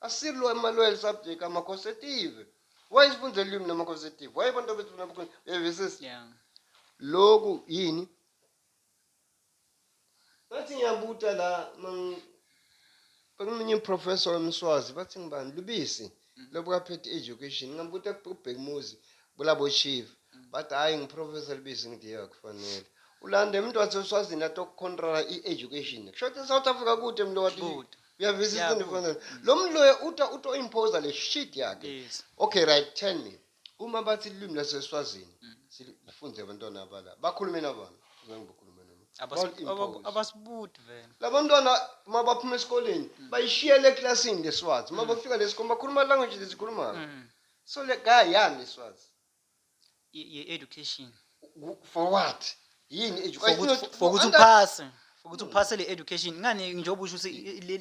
Speaker 2: Asilwa Emmanuel subject ama consecutive. Why sifunde ulimi nama consecutive? Why abantu bethu nama consecutive? Yebo sis. Yeah. Loku yini? Bathi ngiyabuta la mang Bekumunye professor wemswazi bathi ngibani lubisi mm. lobukaphethe education ngambuta kubhekumuzi kulabo chief mm. bathi hayi ngiprofessor lubisi ngithi akufanele ulande umuntu waseswazini atokucontrola i-education kusho ukuthi south africa kude mlo wathi Uyavisisa Yeah, into efana lo muntu loyo uto uto impose le shit yakhe. Yes. Okay right tell me uma bathi ilimi laseSwazini Mm. silifunde abantwana abala bakhulume nabona zange bakhulume noma. Abas- Don't impose. aba-
Speaker 1: Abasibuti vele. labantwana uma
Speaker 2: baphuma esikoleni Mm. bayishiyele eklasini ngeswazi uma bafika lesikole bakhuluma language lesikhulumayo Mm. so le guy yani iswazi ye education
Speaker 1: for what
Speaker 2: yini fokuthi
Speaker 1: uphase ukuthi uphase le education ngani njengoba usho ukuthi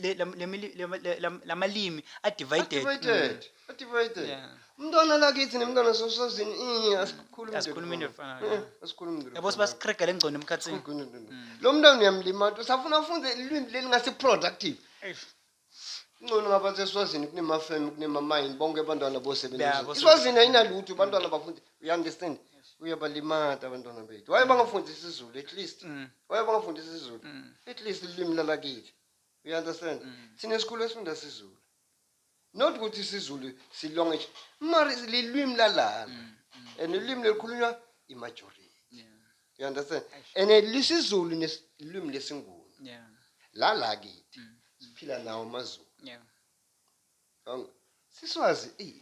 Speaker 1: lamalimi are divided mm. divided
Speaker 2: umntwana lakithi nemntwana sosazini asikhulumi asikhulumi
Speaker 1: into efanayo eh, asikhulumi into yabo sibasikrega lengcono emkhathini mm. lo mntwana
Speaker 2: uyamlimata usafuna ufunde ilwimi leli ngase productive Ingcono ngaba seSwazini kunemafemu kunemamayini bonke abantwana Yabo, bosebenza. sebenza. ISwazini ayinalutho abantwana abafundi. You understand? Uyabalimata abantwana bethu. Waye bangafundisa isiZulu at least. Waye bangafundisa isiZulu. At least ilimi lalakithi. You understand? Thina esikhulu esifunda isiZulu. Not ukuthi isiZulu silonga nje. Mari lilwimi lalana. And ulimi lelikhulunywa imajority. You understand? Eish. And eh, lisiZulu nesilimi lesiNguni. Yeah. La la kithi Mm. siphila nawo amaZulu. Yeah. Yonke. Siswazi eh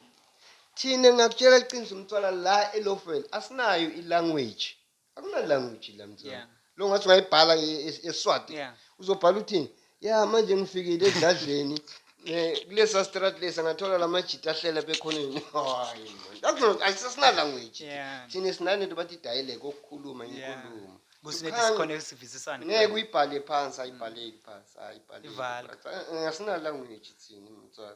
Speaker 2: thina ngakutshela iqiniso umntwana la eLofwell asinayo ilanguage. Akuna language la mntwana. Yeah. Lo ngathi ungayibhala e- e- eSwati. Yeah. Uzobhala uthini? ya manje ngifikile edladleni eh, kulesa strat lesa ngathola la majita ahlela bekhoneni hayi man ayisesinalangweji Yeah. thina sinale nto bathi idayileke okukhuluma Yeah. inkulumo Kusinethi Ikhanga- sikhona esivisisana. ngeke uyibhale phansi ayibhaleki phansi ayibhaleki Ivala. phansi. Eh, eh, asinalangweji thina mtswala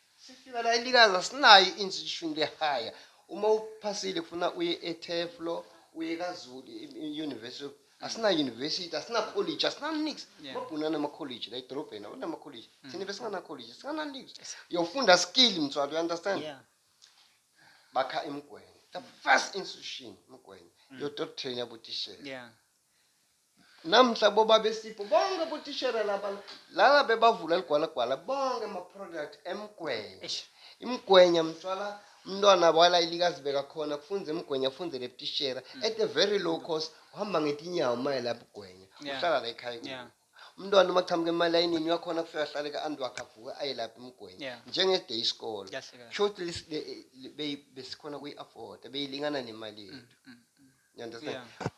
Speaker 2: Sifika la elikazi asinayo i-inch ishumi lehaya uma uphasile kufuna uye etheflo uye kazulu i-university of- asina-university asina-college asina-nix Yeah. amabhunu anama-college la edolobheni awanama-college thina besingana-college singana-nix yofunda skill mthwalo you understand Yeah. bakha emgwenya the first institution emgwenya yotottrain yabotishela Yeah. Namhla boBabesipho bonke botishera laba lala bebavula ligwalagwala bonke ama product emgwenya. Eish. Imgwenya mtshwala umntwana wala ilikazibeka khona kufunza emgwenya afunzele butishera at a very low cost uhamba ngetinyawo maye la bugwenya Yeah. uhlala la ekhaya kubo. Yeah. Umntwana uma chamuka emalayinini uyakhona kufika ahlale ka anti wakhe avuke aye lapha emgwenya Yeah. njenge day isikolo. Kahle kahle. Shuthi lis- le- le- beyi- besikhona kuyi afford beyilingana nemali yethu. Mm, mm, mm. You understand? Yeah.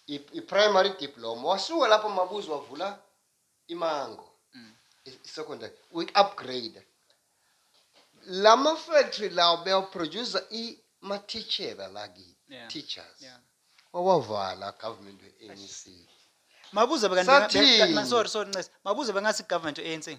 Speaker 2: i primary diploma wasuka lapho mabuzi wavula imango mm. i secondary we upgrade lama factory lawo beyaproduce i ma teacher la ki yeah. teachers yeah. wawavala government we ANC mabuze
Speaker 1: bekanti sorry sorry ncese mabuze bengathi government we ANC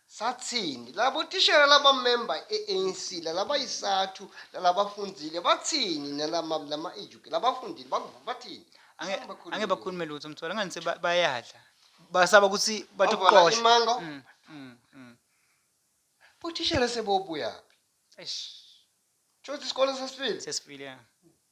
Speaker 2: Sathini? Labo tishela labamemba e-ANC lalabayisathu lalabafundzile batsini nalama lama educ labafundile bakuva bathini? Ange- Angeke bakhulume ange lutho.
Speaker 1: bakhulume lutho mthola ngani se ba- bayadla basaba ukuthi Bavala batokuqosha
Speaker 2: imango.
Speaker 1: Mm, mm, mm.
Speaker 2: Bothishela sebobuyaphi?
Speaker 1: Eish, Shuthi
Speaker 2: isikole sesifile. sesifile ya.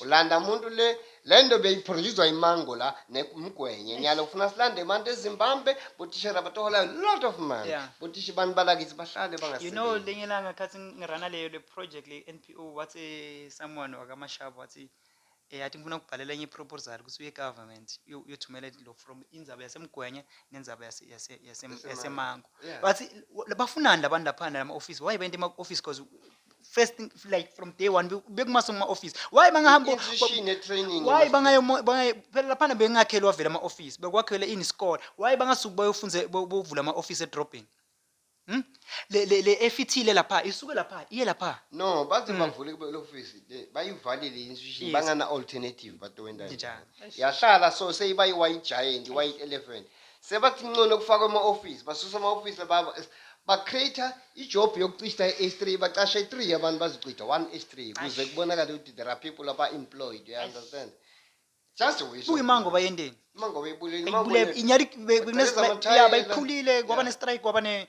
Speaker 1: Ulanda muntu
Speaker 2: le lento beyiphronjizwa imango la nemgwenye nyalo kufuna silande manje ezimbambe botishera batohola a lot of money yeah. botishi bantu
Speaker 1: balakithi
Speaker 2: bahlale bangasebenzi you know lenye
Speaker 1: langa khathi
Speaker 2: ngirana
Speaker 1: leyo le project le NPO wathi someone wakamashaba wathi eyathi eh, ngifuna ukubhalela enye proposal ukuthi uye government uyothumela lo from indzaba yasemgwenye nenzaba yase yase yasemango bathi
Speaker 2: bafunani
Speaker 1: labantu laphana lama office why bente ema office because first thing like from day one be- bekumase kuma office why bangahamba Inquisition ne-training
Speaker 2: why must- bangayo mo-
Speaker 1: bangayo- phela laphana bengakhelwa vele ama office bekwakhele ini isikole why bangasuki bayofunze bo- bovula ama office edrobheni Hmm? le le le efithile lapha isuke lapha iye lapha no baze bavule
Speaker 2: kube ofisi bayivalile i-institution Yes. bangana-alternative batowendani Njani? yahlala
Speaker 1: so
Speaker 2: seyiba i-white giant i-white elephant Sebathi ncono kufakwe ama office, basusa ama office baba ba create ijob yokucishta iH3 bacashe 3 yabantu bazocitha one iH3 kuze kubonakale ukuthi there are people aba employed you understand. Just a wish. Kuyimango bayenteni?
Speaker 1: Imango bayibulele. Imango
Speaker 2: Bayibulele inyali Bacela
Speaker 1: bekunezibaya amathayela. bayiphulile kwaba ne strike kwaba ne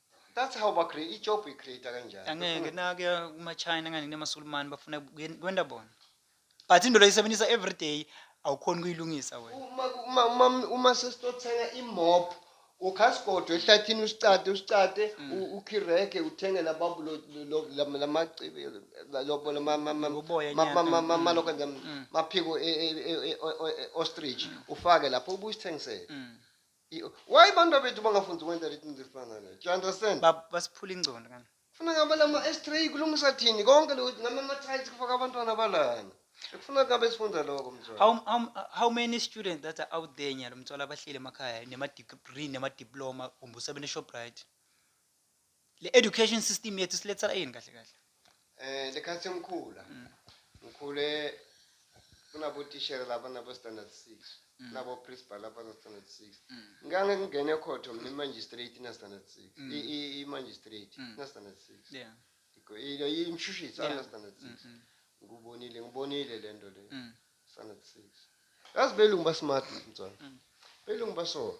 Speaker 2: That's how ba create ijob i create kanjani. Angeke nakuya
Speaker 1: kuma China ngani nemasulumani bafuna kuyen- kwenda bona. But into loyisebenzisa every day awukhoni kuyilungisa wena. Uma uma uma uma sesitothenga
Speaker 2: imop ukhasigodo ehlathini usicade usicade Mm. u- ukhireke uthenge lababu lo- lo- lo- lama- lamacibi la- lobo lama- ma- ma- Loboya ma- ma- nyana. ma- ma- Mm. malokho nje, Mm. maphiko e- e- e- e- o- o- e- ostrich ufake lapho ubuye usithengisele. Mm. Why abantu abethu bangafunzi ukwenza leti into ezifana naleyo? Do you understand? Ba- basiphula ingcondo
Speaker 1: kana Kufuna ngabe lama
Speaker 2: S3 kulungisa thini konke lokhu nama mathayisi kufaka abantwana balana. Kufuna ngabe sifunda lokho mzwana. how, how, how many students
Speaker 1: that are out there nyalo mthola abahleli emakhaya nema-degree nema-diploma kumbe usebenza eshoprite le education system yethu silethela yini kahle kahle Eh lekhathi mkhula.
Speaker 2: Ngikhule kunabo tishera laba nabo standard 6. Nabo principal laba no standard 6. Ngange ngingene khotho mina magistrate na standard 6. Mm. I i- i magistrate Mm. na standard 6. yeah Iko-
Speaker 1: Ilo
Speaker 2: imshushisi Yeah. ana standard 6. Mm, Ngikubonile ngibonile lento le. mm, Standard 6. Yazi belungu ba smart mntwana. Mm. Belungu baso.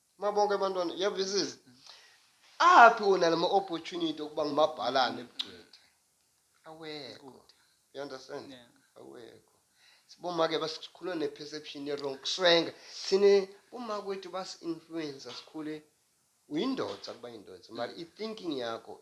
Speaker 2: Mabonke
Speaker 1: abantwana,
Speaker 2: yavisisa. Aphi wona lama opportunity okuba ngumabhalane ebugcwethe? Awekho. You understand? Yeah. Awekho. Siboma ke basikhulwa ne perception e wrong. Kuswenga. Sine uma kwethu bas influence asikhule uyindoda kuba indoda. Mali i thinking yakho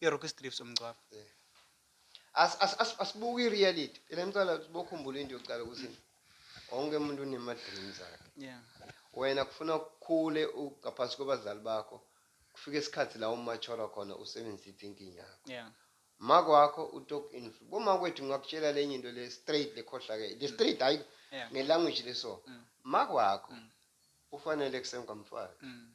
Speaker 1: irock strips umgcwabo As- as- as-
Speaker 2: asibuke i-reality phela ngicala ukuthi bokhumbula into yokucala ukuthi wonke umuntu unema-dreams akhe yeah wena
Speaker 1: kufuna
Speaker 2: ukhule u- ngaphansi kwabazali bakho kufike isikhathi la umachora khona usebenzise i-thinking yakho yeah mako
Speaker 1: wakho
Speaker 2: utok influ boma kwethu ngakutshela lenye into le straight lekhohlakele le straight hayi yeah ngelanguage leso Mm. mako wakho Mm. ufanele kusemkamfana mm.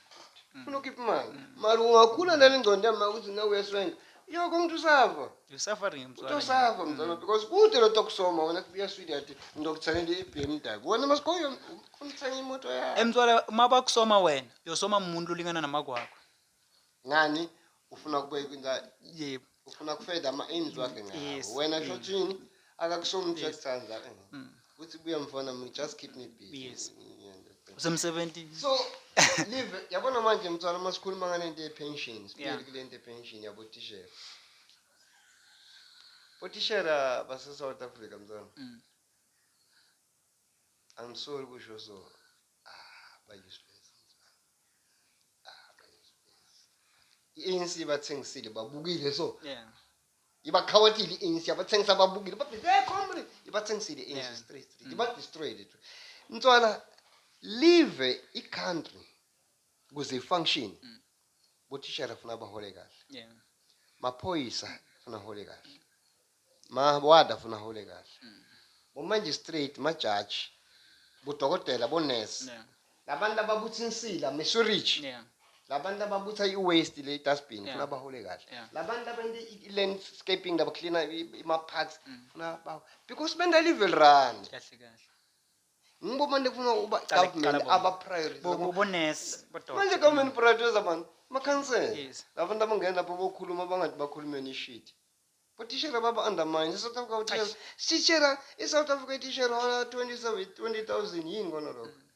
Speaker 2: funa ukhipha imali mara ungakhula nale ngcondo yama ukuthi na uyaswenga yo komuntu usafa You're suffering uthi mzala.
Speaker 1: usafa mzalwa because
Speaker 2: kude lo tokusoma wena kubuya swidi athi ngizokuthengela i-bmw wena masikhoyo umthenge imoto yakho Emtswala Eh, uma bakusoma
Speaker 1: wena, uyosoma umuntu olingana namakwakho. ngani
Speaker 2: ufuna kubeka inzalo Yebo. ufuna
Speaker 1: kufeda ama
Speaker 2: aims wakhe ngawo wena shothini akakusona uthi uyakuthanda mm. uthi buya mfana mina just keep me busy yes.
Speaker 1: usemsebenzini so
Speaker 2: live yabona manje mthwalo uma sikhuluma ngalento ye-pension sibuyele kule nto ye-pension yabotishera botishera base-south africa mthwalo mm. I'm sorry ukusho so. Ah, bayisibezi mzansi. Ah, bayisibezi. I-ANC bathengisile babukile so. Yeah. Ibakhawatile i-ANC abathengisa babukile. Bathi hey comrade, ibathengisile i-ANC Yeah. straight straight. Mm. Iba destroyed it. Mntwana leave i-country kuze ifunction. Mm. Bothishela funa bahole kahle. Yeah. Maphoyisa funa hole kahle. Mawada funa hole kahle. Mm. Bo magistrate, ma judge, bo dokotela, bo nurse. Yeah. Labantu lababutha insila, misurich. Yeah. Labantu lababutha i waste le dustbin yeah. funa bahole kahle. Yeah. Labantu labenza i landscaping laba cleaner ima parks mm. funa ba because benda level run. Kahle kahle.
Speaker 1: Ngibo
Speaker 2: manje kufuna uba government aba priority. Bo bo nurse,
Speaker 1: bo dokotela. Manje government
Speaker 2: priority zabantu. Makhansela. Yes. Labantu abangena lapho bokhuluma bangathi bakhulumeni ishit. Botishera baba undermine South Africa utishera sitshera iSouth Africa itishera hola 27 20000 yini kona lokho mm.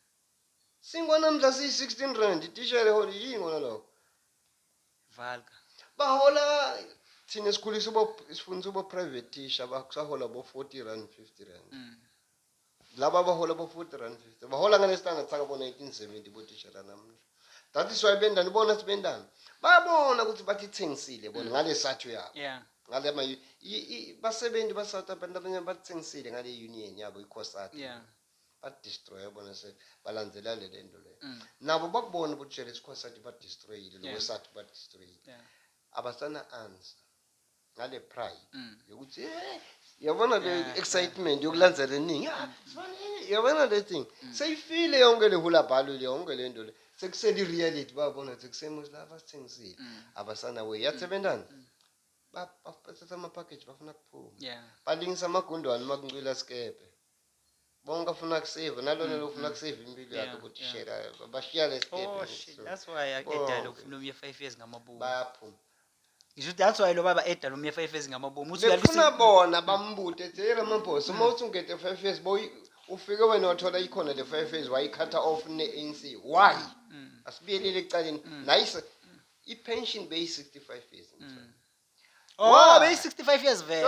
Speaker 2: Singwanamhla siyi 16 rand itishera hola yini kona lokho
Speaker 1: Valga bahola
Speaker 2: thina sikhulisa ubo sifundisa ubo private teacher bakusahola bo 40 rand 50 rand mm. laba abahola bo 40 rand 50 bahola ngale standard saka bo 1970 botishela namuhla that is why bendani bona sibendani bayabona ukuthi bathi thengisile bona mm. ngale sathu yabo yeah ngale ma basebenzi ba South Africa abanye bathengisile ngale union yabo iCosat yeah ba destroy bona se balandzela le lento le mm. nabo bakubona ukuthi jele iCosat ba destroyile lo South ba destroyile abasana answer ngale pride yokuthi eh yabona le Yeah, excitement yokulandzela eningi ah, sibone, eh, yabona le thing seyifile yonke le hula bhalu le yonke le nto le sekusele i-reality babona ukuthi kusemuzi la basithengisile abasana way yathebentana Ba- ba- bathatha ama-package bafuna kuphuma yeah balingisa amagundwane uma kuncwila sikepe bonke afuna kusave nalona mm, lo ufuna mm. kusave impilo yakhe ukuthi shela bashiya oh, that's why edala
Speaker 1: ukufuna umye 5 years ngamabomu bayaphuma
Speaker 2: ngisho that's
Speaker 1: why lo baba edala umye 5 years ngamabomu uthi uyafuna bona
Speaker 2: bambute ethi hey Ramaphosa uma mm. uthi ungete 5 years boy ufike wena wathola ikhona le 5 years wayikhatha off ne ANC why asibiyelele ecaleni nice i-pension beyi-65 years
Speaker 1: mm. oh beyi-65 years vele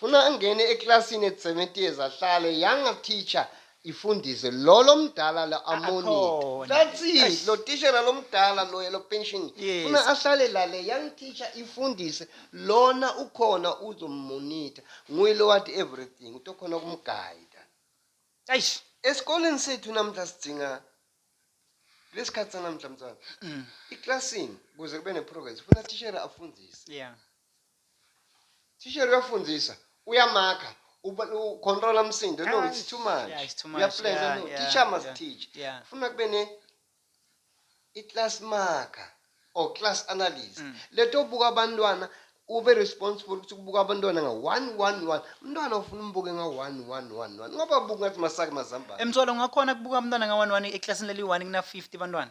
Speaker 2: Funa angene eklasini eTsemeteers ahlale younger teacher ifundise lolo mdala la amonitor. That's it. Lo tishera lomdala loya lo pension. Funa ahlale la le young teacher ifundise lona ukhona uzomonitor. Nguye lo wathi everything utokhona kumguide. Eish.
Speaker 1: Esikoleni
Speaker 2: sethu namhla sidinga lesikhathi sanamhla mntwana. Mm. Eklasini kuze kube neprogress funa tishera afundise. Yeah. Thishere uyafundisa, uyamakha, uba- u control umsindo. No, it's too much. Yeah, it's too much. Uyaplenza, Yeah, no. yeah, Teacher must yeah, teach. yeah. Funa kube ne i-class marker or class analyst. Mm. Leto buka abantwana ube responsible ukuthi kubuka abantwana nga 111. Umntwana ufuna umbuke nga 1111. Ngoba buka ngathi masake mazambane. Emtholo ngakhona kubuka
Speaker 1: umntwana nga-one-one eklasini leli-one kuna-fifty bantwana.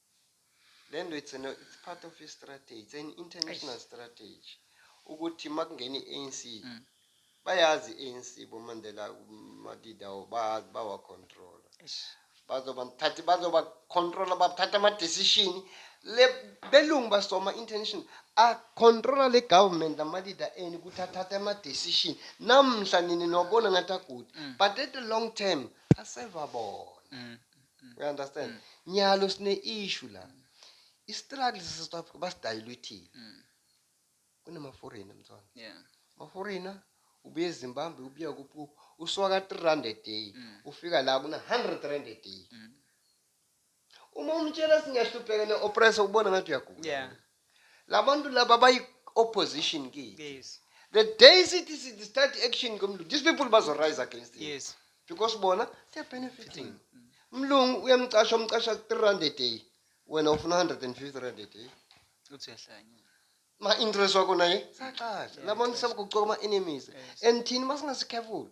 Speaker 2: Lento it's an, it's part of a strategy, it's an international Eish. strategy. Ukuthi makungena i-ANC mm. bayazi i-ANC boMandela madidawo bayazi bawa control. Bazoba mthathi bazoba control bathatha ama decision le belungu basoma international a controla le government ama leader eni ukuthi athathe ama decision namhla nini nobona ngathi agude mm. but at the long term aseva bona. Mm. You understand? Nyalo sine issue la. I struggle sase South Africa basidayilwithile. Kunama foreigner mthwana. Yeah. Ma foreigner ubuye eZimbabwe ubuya kuphi kuphi usuka ka 3 rand a day ufika la kuna 100 rand a day. Uma umtshela singiyahlupheka ne oppress ubona ngathi uyagula. Yeah. Labantu laba bayi opposition kithi. Yes. The day
Speaker 1: sithi
Speaker 2: sithi start action komlungu, these people bazo rise against him. Yes. Because bona they are benefiting. Mlungu uyamcasha umcasha 3 rand a day. Wena ufuna 150 rand a day. Uthi
Speaker 1: uyahlanya. Ma interest
Speaker 2: wakho naye sacasha. Labantu sebakucoka ama enemies. And thina masingasikhefulo.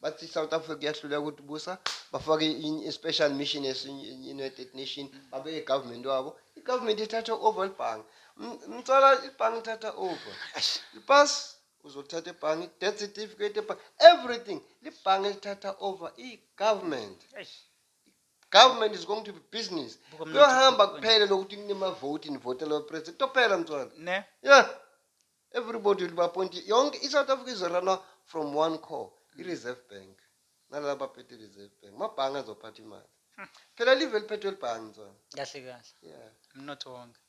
Speaker 2: bathi South Africa kuyahluleka ukuthi busa bafake i-special mission ye-United Nation babe i-government wabo i-government ithatha over ibhange mthola ibhange ithatha over ipas uzothatha ibhange death certificate ebhange everything libhange lithatha over i-government government is going to be business kuyohamba kuphele lokuthi kunemavoti nivotela president kutophela mthola ne yeah Everybody will be appointed. Yonke iSouth Africa izorana from one core, mm. i-Reserve Bank. Nalaba baphethe i-Reserve Bank. Mabhange azophatha imali. Hmm. Phela live liphethwe libhange ntswana. Kahle kahle.
Speaker 1: Yeah. Umnotho
Speaker 2: wonke.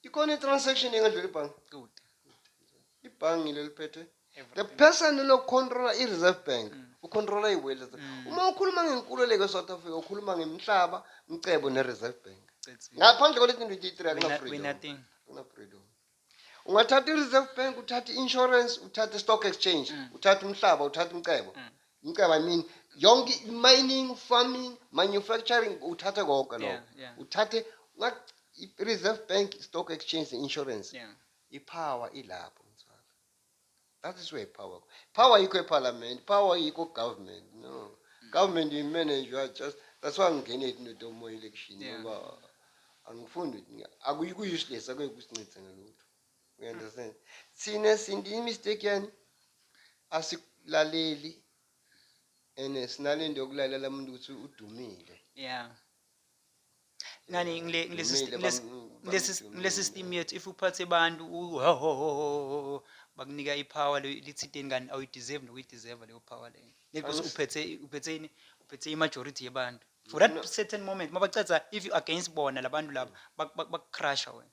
Speaker 1: Ikhona
Speaker 2: i-transaction engadlula ibhange. Kude. Ibhange lelo liphethwe. The person lokucontrola i-Reserve Bank. Mm. Ucontrola i-wealth. Mm. Uma ukhuluma ngenkululeko e-South Africa, ukhuluma ngemhlaba, umcebo ne-Reserve Bank. Ngaphandle kwaleti ndidi 3 akuna freedom. Akuna freedom. ungathatha i-reserve bank uthathe i-insurance uthathe i-stock exchange mm. uthathe umhlaba uthathe umcebo mm. umcebo i mean yonke mining farming manufacturing uthathe konke lokho yeah, yeah. uthathe i-reserve bank stock exchange ne-insurance yeah. ipower ilapho That is where power. Power yikho eParliament, power yikho government. No. Mm. Government you manage you are just that's why ngingene it into domo election ngoba angifundi akuyiku useless akuyikusincithe ngalutho. We understand. Thina sindi mistake yani asilaleli and sinalento yokulalela umuntu ukuthi udumile. Yeah.
Speaker 1: ngani ngile ngile Ngimile, system- ngile- bam- ngile bam- sys- ngile system yethu if uphathe abantu u- ho- ho- ho- ho- ho- ho, bakunika ipower leyo lithinteni kanti awuyideserve nokuyideserve leyo power leyo Ngeke Angis- uphethe uphethe ini uphethe imajority yebantu for that No. certain moment mabacatha if you against bona labantu laba bak- bak- bakucrusher wena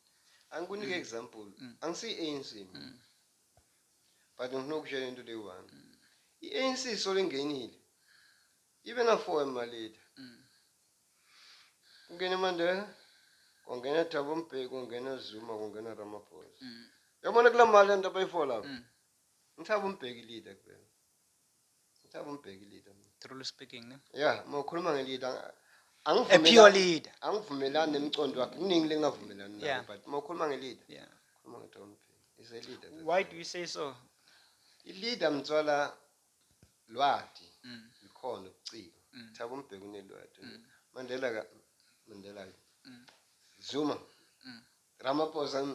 Speaker 1: angikunike
Speaker 2: example Mm. angisiyi-anc mina but ngifuna ukutshela into leyi one i-anc solo ingenile Even a foreign ma leader. Kungena uMandela, kwangena Thabo Mbeki, kwangena Zuma, kwangena Ramaphosa. Yabona kula mali lento abayifola. Ngithaba uMbeki leader kubena. Ngithaba uMbeki leader. Truly speaking, ne?
Speaker 1: Yeah, mawukhuluma nge-leader.
Speaker 2: A pure
Speaker 1: leader. Angivumelani nemcondo
Speaker 2: wakhe. Kuningi lengavumelani nayo, Yeah. but mawukhuluma nge-leader. Yeah. Khuluma ngeThabo Mbeki. He's a leader. that's Why all. do you say so?
Speaker 1: I-leader
Speaker 2: mthwala Lwati, Likhona ubuciko. Thabo Mbheki unelwati. Mandela ka Mandela ke. Zuma. Ramaphosa.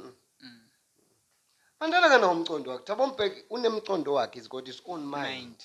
Speaker 2: Mandela kanawo umcondo wakhe. Thabo Mbheki unemcondo wakhe he's got his own mind.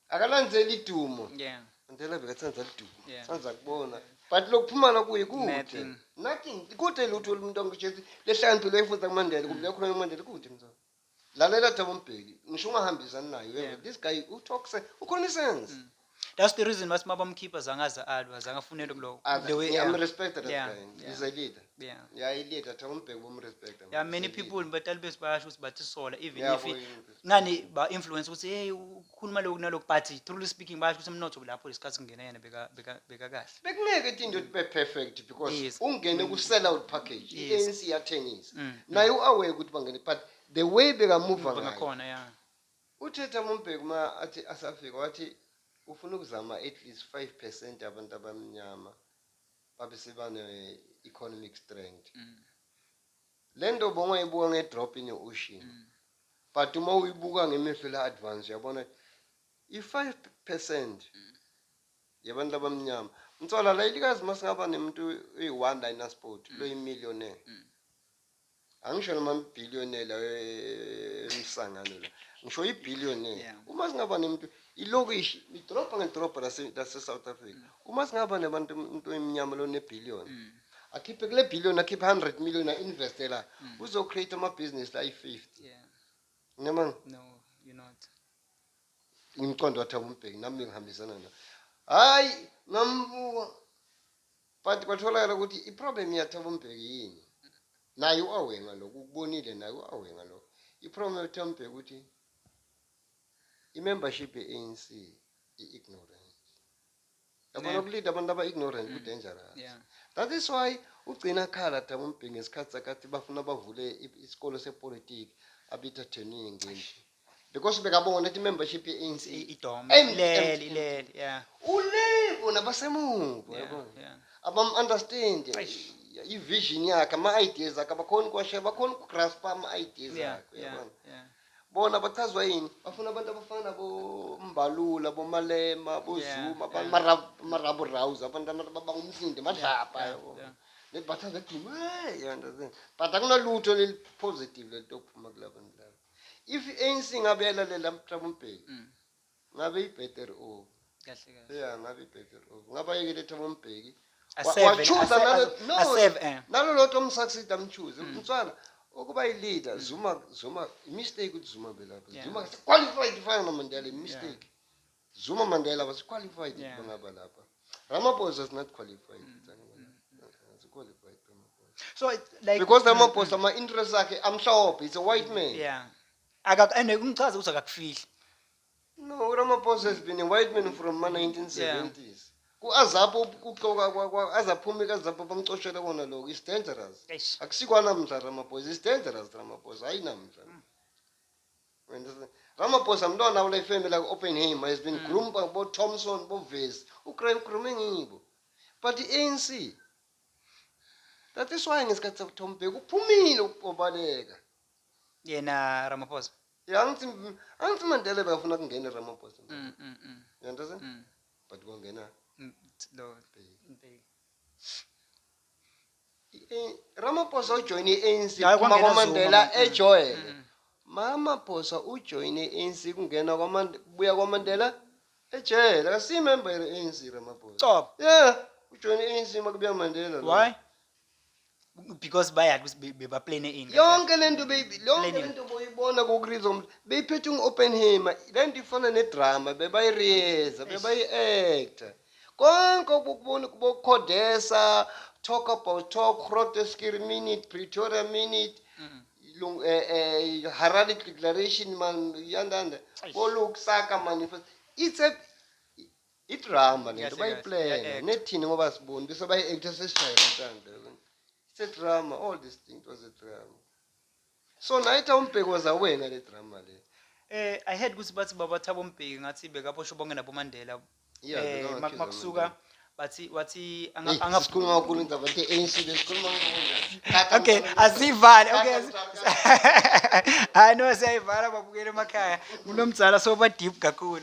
Speaker 2: Akalandzeli idumo. Yeah. Mandela bekatsandza lidumo. Yeah. Sandza kubona. But lokuphumala kuye kude. Nothing. Nothing. Kude lutho lomuntu angishezi lehlakaniphile efundza kuMandela kumbe yakhuluma kuMandela kude mzansi. Lalela Thabo Mbheki, ngisho ungahambisani naye uye Yeah. this guy u talks eh, ukhuluma isense. Mm. That's
Speaker 1: the reason why uma bamkhipha zange aze alwa, zange afunele kulo. Ah, the way- I'm yeah. respected that Yeah, guy.
Speaker 2: yeah. He's a leader.
Speaker 1: Yeah.
Speaker 2: Yeah, i leader
Speaker 1: Thabo
Speaker 2: Mbheki bomrespect. Yeah, many people
Speaker 1: batali bethu bayasho ukuthi bathisola even Yeah, if boy, ngani
Speaker 2: ba
Speaker 1: influence ukuthi hey u- khuluma lokhu nalokhu but truly speaking basho ukuthi umnotho lapho lesikhathi kungena yena beka beka bekakahle bekungeke into into ibe
Speaker 2: perfect because Yes. ungene ku sell
Speaker 1: out
Speaker 2: package Yes. i-ANC yathengisa
Speaker 1: Mm.
Speaker 2: naye u-aware ukuthi bangene but the way bekamuva ngayo ngakhona ya
Speaker 1: uthetha
Speaker 2: mumbheki uma athi asafika wathi ufuna ukuzama at least 5 percent abantu abamnyama babe sebane-economic strength Mm. Lento bongayibuka nge drop ine ocean. Mm. But uma uyibuka ngemehlo la advance uyabona i 5% mm. yabantu abamnyama. Mthola la ilikazi masingaba nemuntu uyi one la ina sport mm. lo millionaire. Mm. Angisho noma billionaire la emsangano la. Ngisho i billionaire. Yeah. Uma singaba nemuntu ilokishi idrop ngedrop lase lase South Africa. Mm. Uma singaba nebantu umuntu oyimnyama lo ne billion. Mm. akhiphe kule billion akhiphe 100 million a investe la mm. uzo create ama business la 50 yeah
Speaker 1: ngiyama
Speaker 2: no you
Speaker 1: not
Speaker 2: ngimqondo wathi akumbheki nami ngihambisana na hayi ngambuka but kwatholakala ukuthi i problem yathaba umbheki yini naye uawenga lokho ukubonile naye uawenga lokho i problem yathaba umbheki ukuthi i membership ye ANC i ignorant Yabona Ne. ukulinda abantu aba ignorant ku dangerous. Yeah. That is
Speaker 1: why
Speaker 2: ugcina akhala thaba umbhingi ngesikhathi sakhe athi bafuna bavule i- isikole sepolitiki abitha turning ngenji. Because bekabona ukuthi membership ye ANC I- Idom. Empty, empty, Ilele,
Speaker 1: empty. ilele. Yeah. ulevo
Speaker 2: nabasemuva Yeah. yabona. Yeah. abam understand Eish. i vision yakhe ama ideas akhe abakhona ukuwashaya bakhona ukugraspa ama ideas Yeah. akhe Yeah. yabona. Yeah. Bona bachazwa yini? Bafuna abantu abafana nabo Mbalula, boMalema, boZuma, yeah, yeah. marabu rouse, abantu abangumsindi, madlapha yeah, yabo. Yeah. Maybe bachazwa ekugcina, hey, you understand? But akunalutho elipositive lento okuphuma kula bantu laba. If i-ANC ngabe yalalela uThabo Mbeki, mm. Ngabe i better o. Kahle kahle. Yeah,
Speaker 1: ngabe i better o.
Speaker 2: Ngabe ayekele Thabo Mbheki. Wa- Aseve, Wachuza ase-
Speaker 1: nalo ase- no. aseve, eh.
Speaker 2: Nalo lotho umsucceed amchuze. Mm. Mfana ukuba i leader Zuma Zuma i mistake ukuthi Zuma belapha. Yeah. Zuma kasi qualified ifana no Mandela i mistake. Zuma Mandela was qualified Yeah. Mm. bangaba lapha. Ramaphosa is not qualified. It's qualified Ramaphosa.
Speaker 1: So it- like Because mm, Ramaphosa my
Speaker 2: interest akhe amhlophe, he's a white man. mm, yeah. Akak
Speaker 1: and ungichaze ukuthi akakufihli. No,
Speaker 2: Ramaphosa has been a white man from ma 1970s. Ku-azapo ukuxoka kwa- kwa- aze aphume kazapo bamcoshele kona lokho is dangerous Eish. akusikwanamdla ramaphosa is dangerous ramaphosa hayi namdla You understand? ramaphosa mntwana kule family aku-oppenham has been groomed by bothomson bovesi ugrime ngibo but i-anc that is why ngesikhathi sakuthomubheka uphumile ukubaleka yena
Speaker 1: Ramaphosa Yeah, angithi
Speaker 2: angithi Mandela bekafuna kungene Ramaphosa. mm, mm, mm, You understand? mm. But kwangena Mm, t- lo Bheki. Mbeki. I- Ramaphosa ujoyine i-ANC Hayi, phuma kwangena kwaMandela Zuma, mm, ejwayele. mm. Mamaphosa ujoyine i-ANC kungena kwaMandela buya kwaMandela ejele. Akasiyimember ye-ANC Ramaphosa. Cobo. Yeah,
Speaker 1: ujoyine
Speaker 2: i-ANC makubuya Mandela. lo. why
Speaker 1: because bayazi ukuthi be- bebaplane ini yonke le nto beyi- yonke
Speaker 2: le Planning. nto boyibona ku-rhythm beyiphethe ungu-oppenheimer le nto ifana nedrama bebayiriyeza bebayi-acta konke obukubona kubokukhodesa talk about talk groteskir minute pretoria minute Lung- eh, eh, harare declaration man yandanda Eish. bolukusaka manifest it's a Idrama lento Kahle, kahle, bayiplana iya-act. nethini ngoba asiboni bese bayi-actor sesishaye umtanda It's a drama all this thing was a drama so nayitha umbheki was aware ngale drama le Eh I heard ukuthi bathi baba
Speaker 1: Thabo Mbheki ngathi bekaboshwe bonke nabo Mandela. Yeah, Eh bekawu-accuse mak- makusuka uMandela. bathi wathi anga Hey, anga
Speaker 2: sikhuluma kakhulu indaba nje ANC besikhuluma kakhulu. Okay, asivale.
Speaker 1: Okay. asi- Hayi no siyayivala babukele emakhaya. Kunomdzala soba deep kakhulu.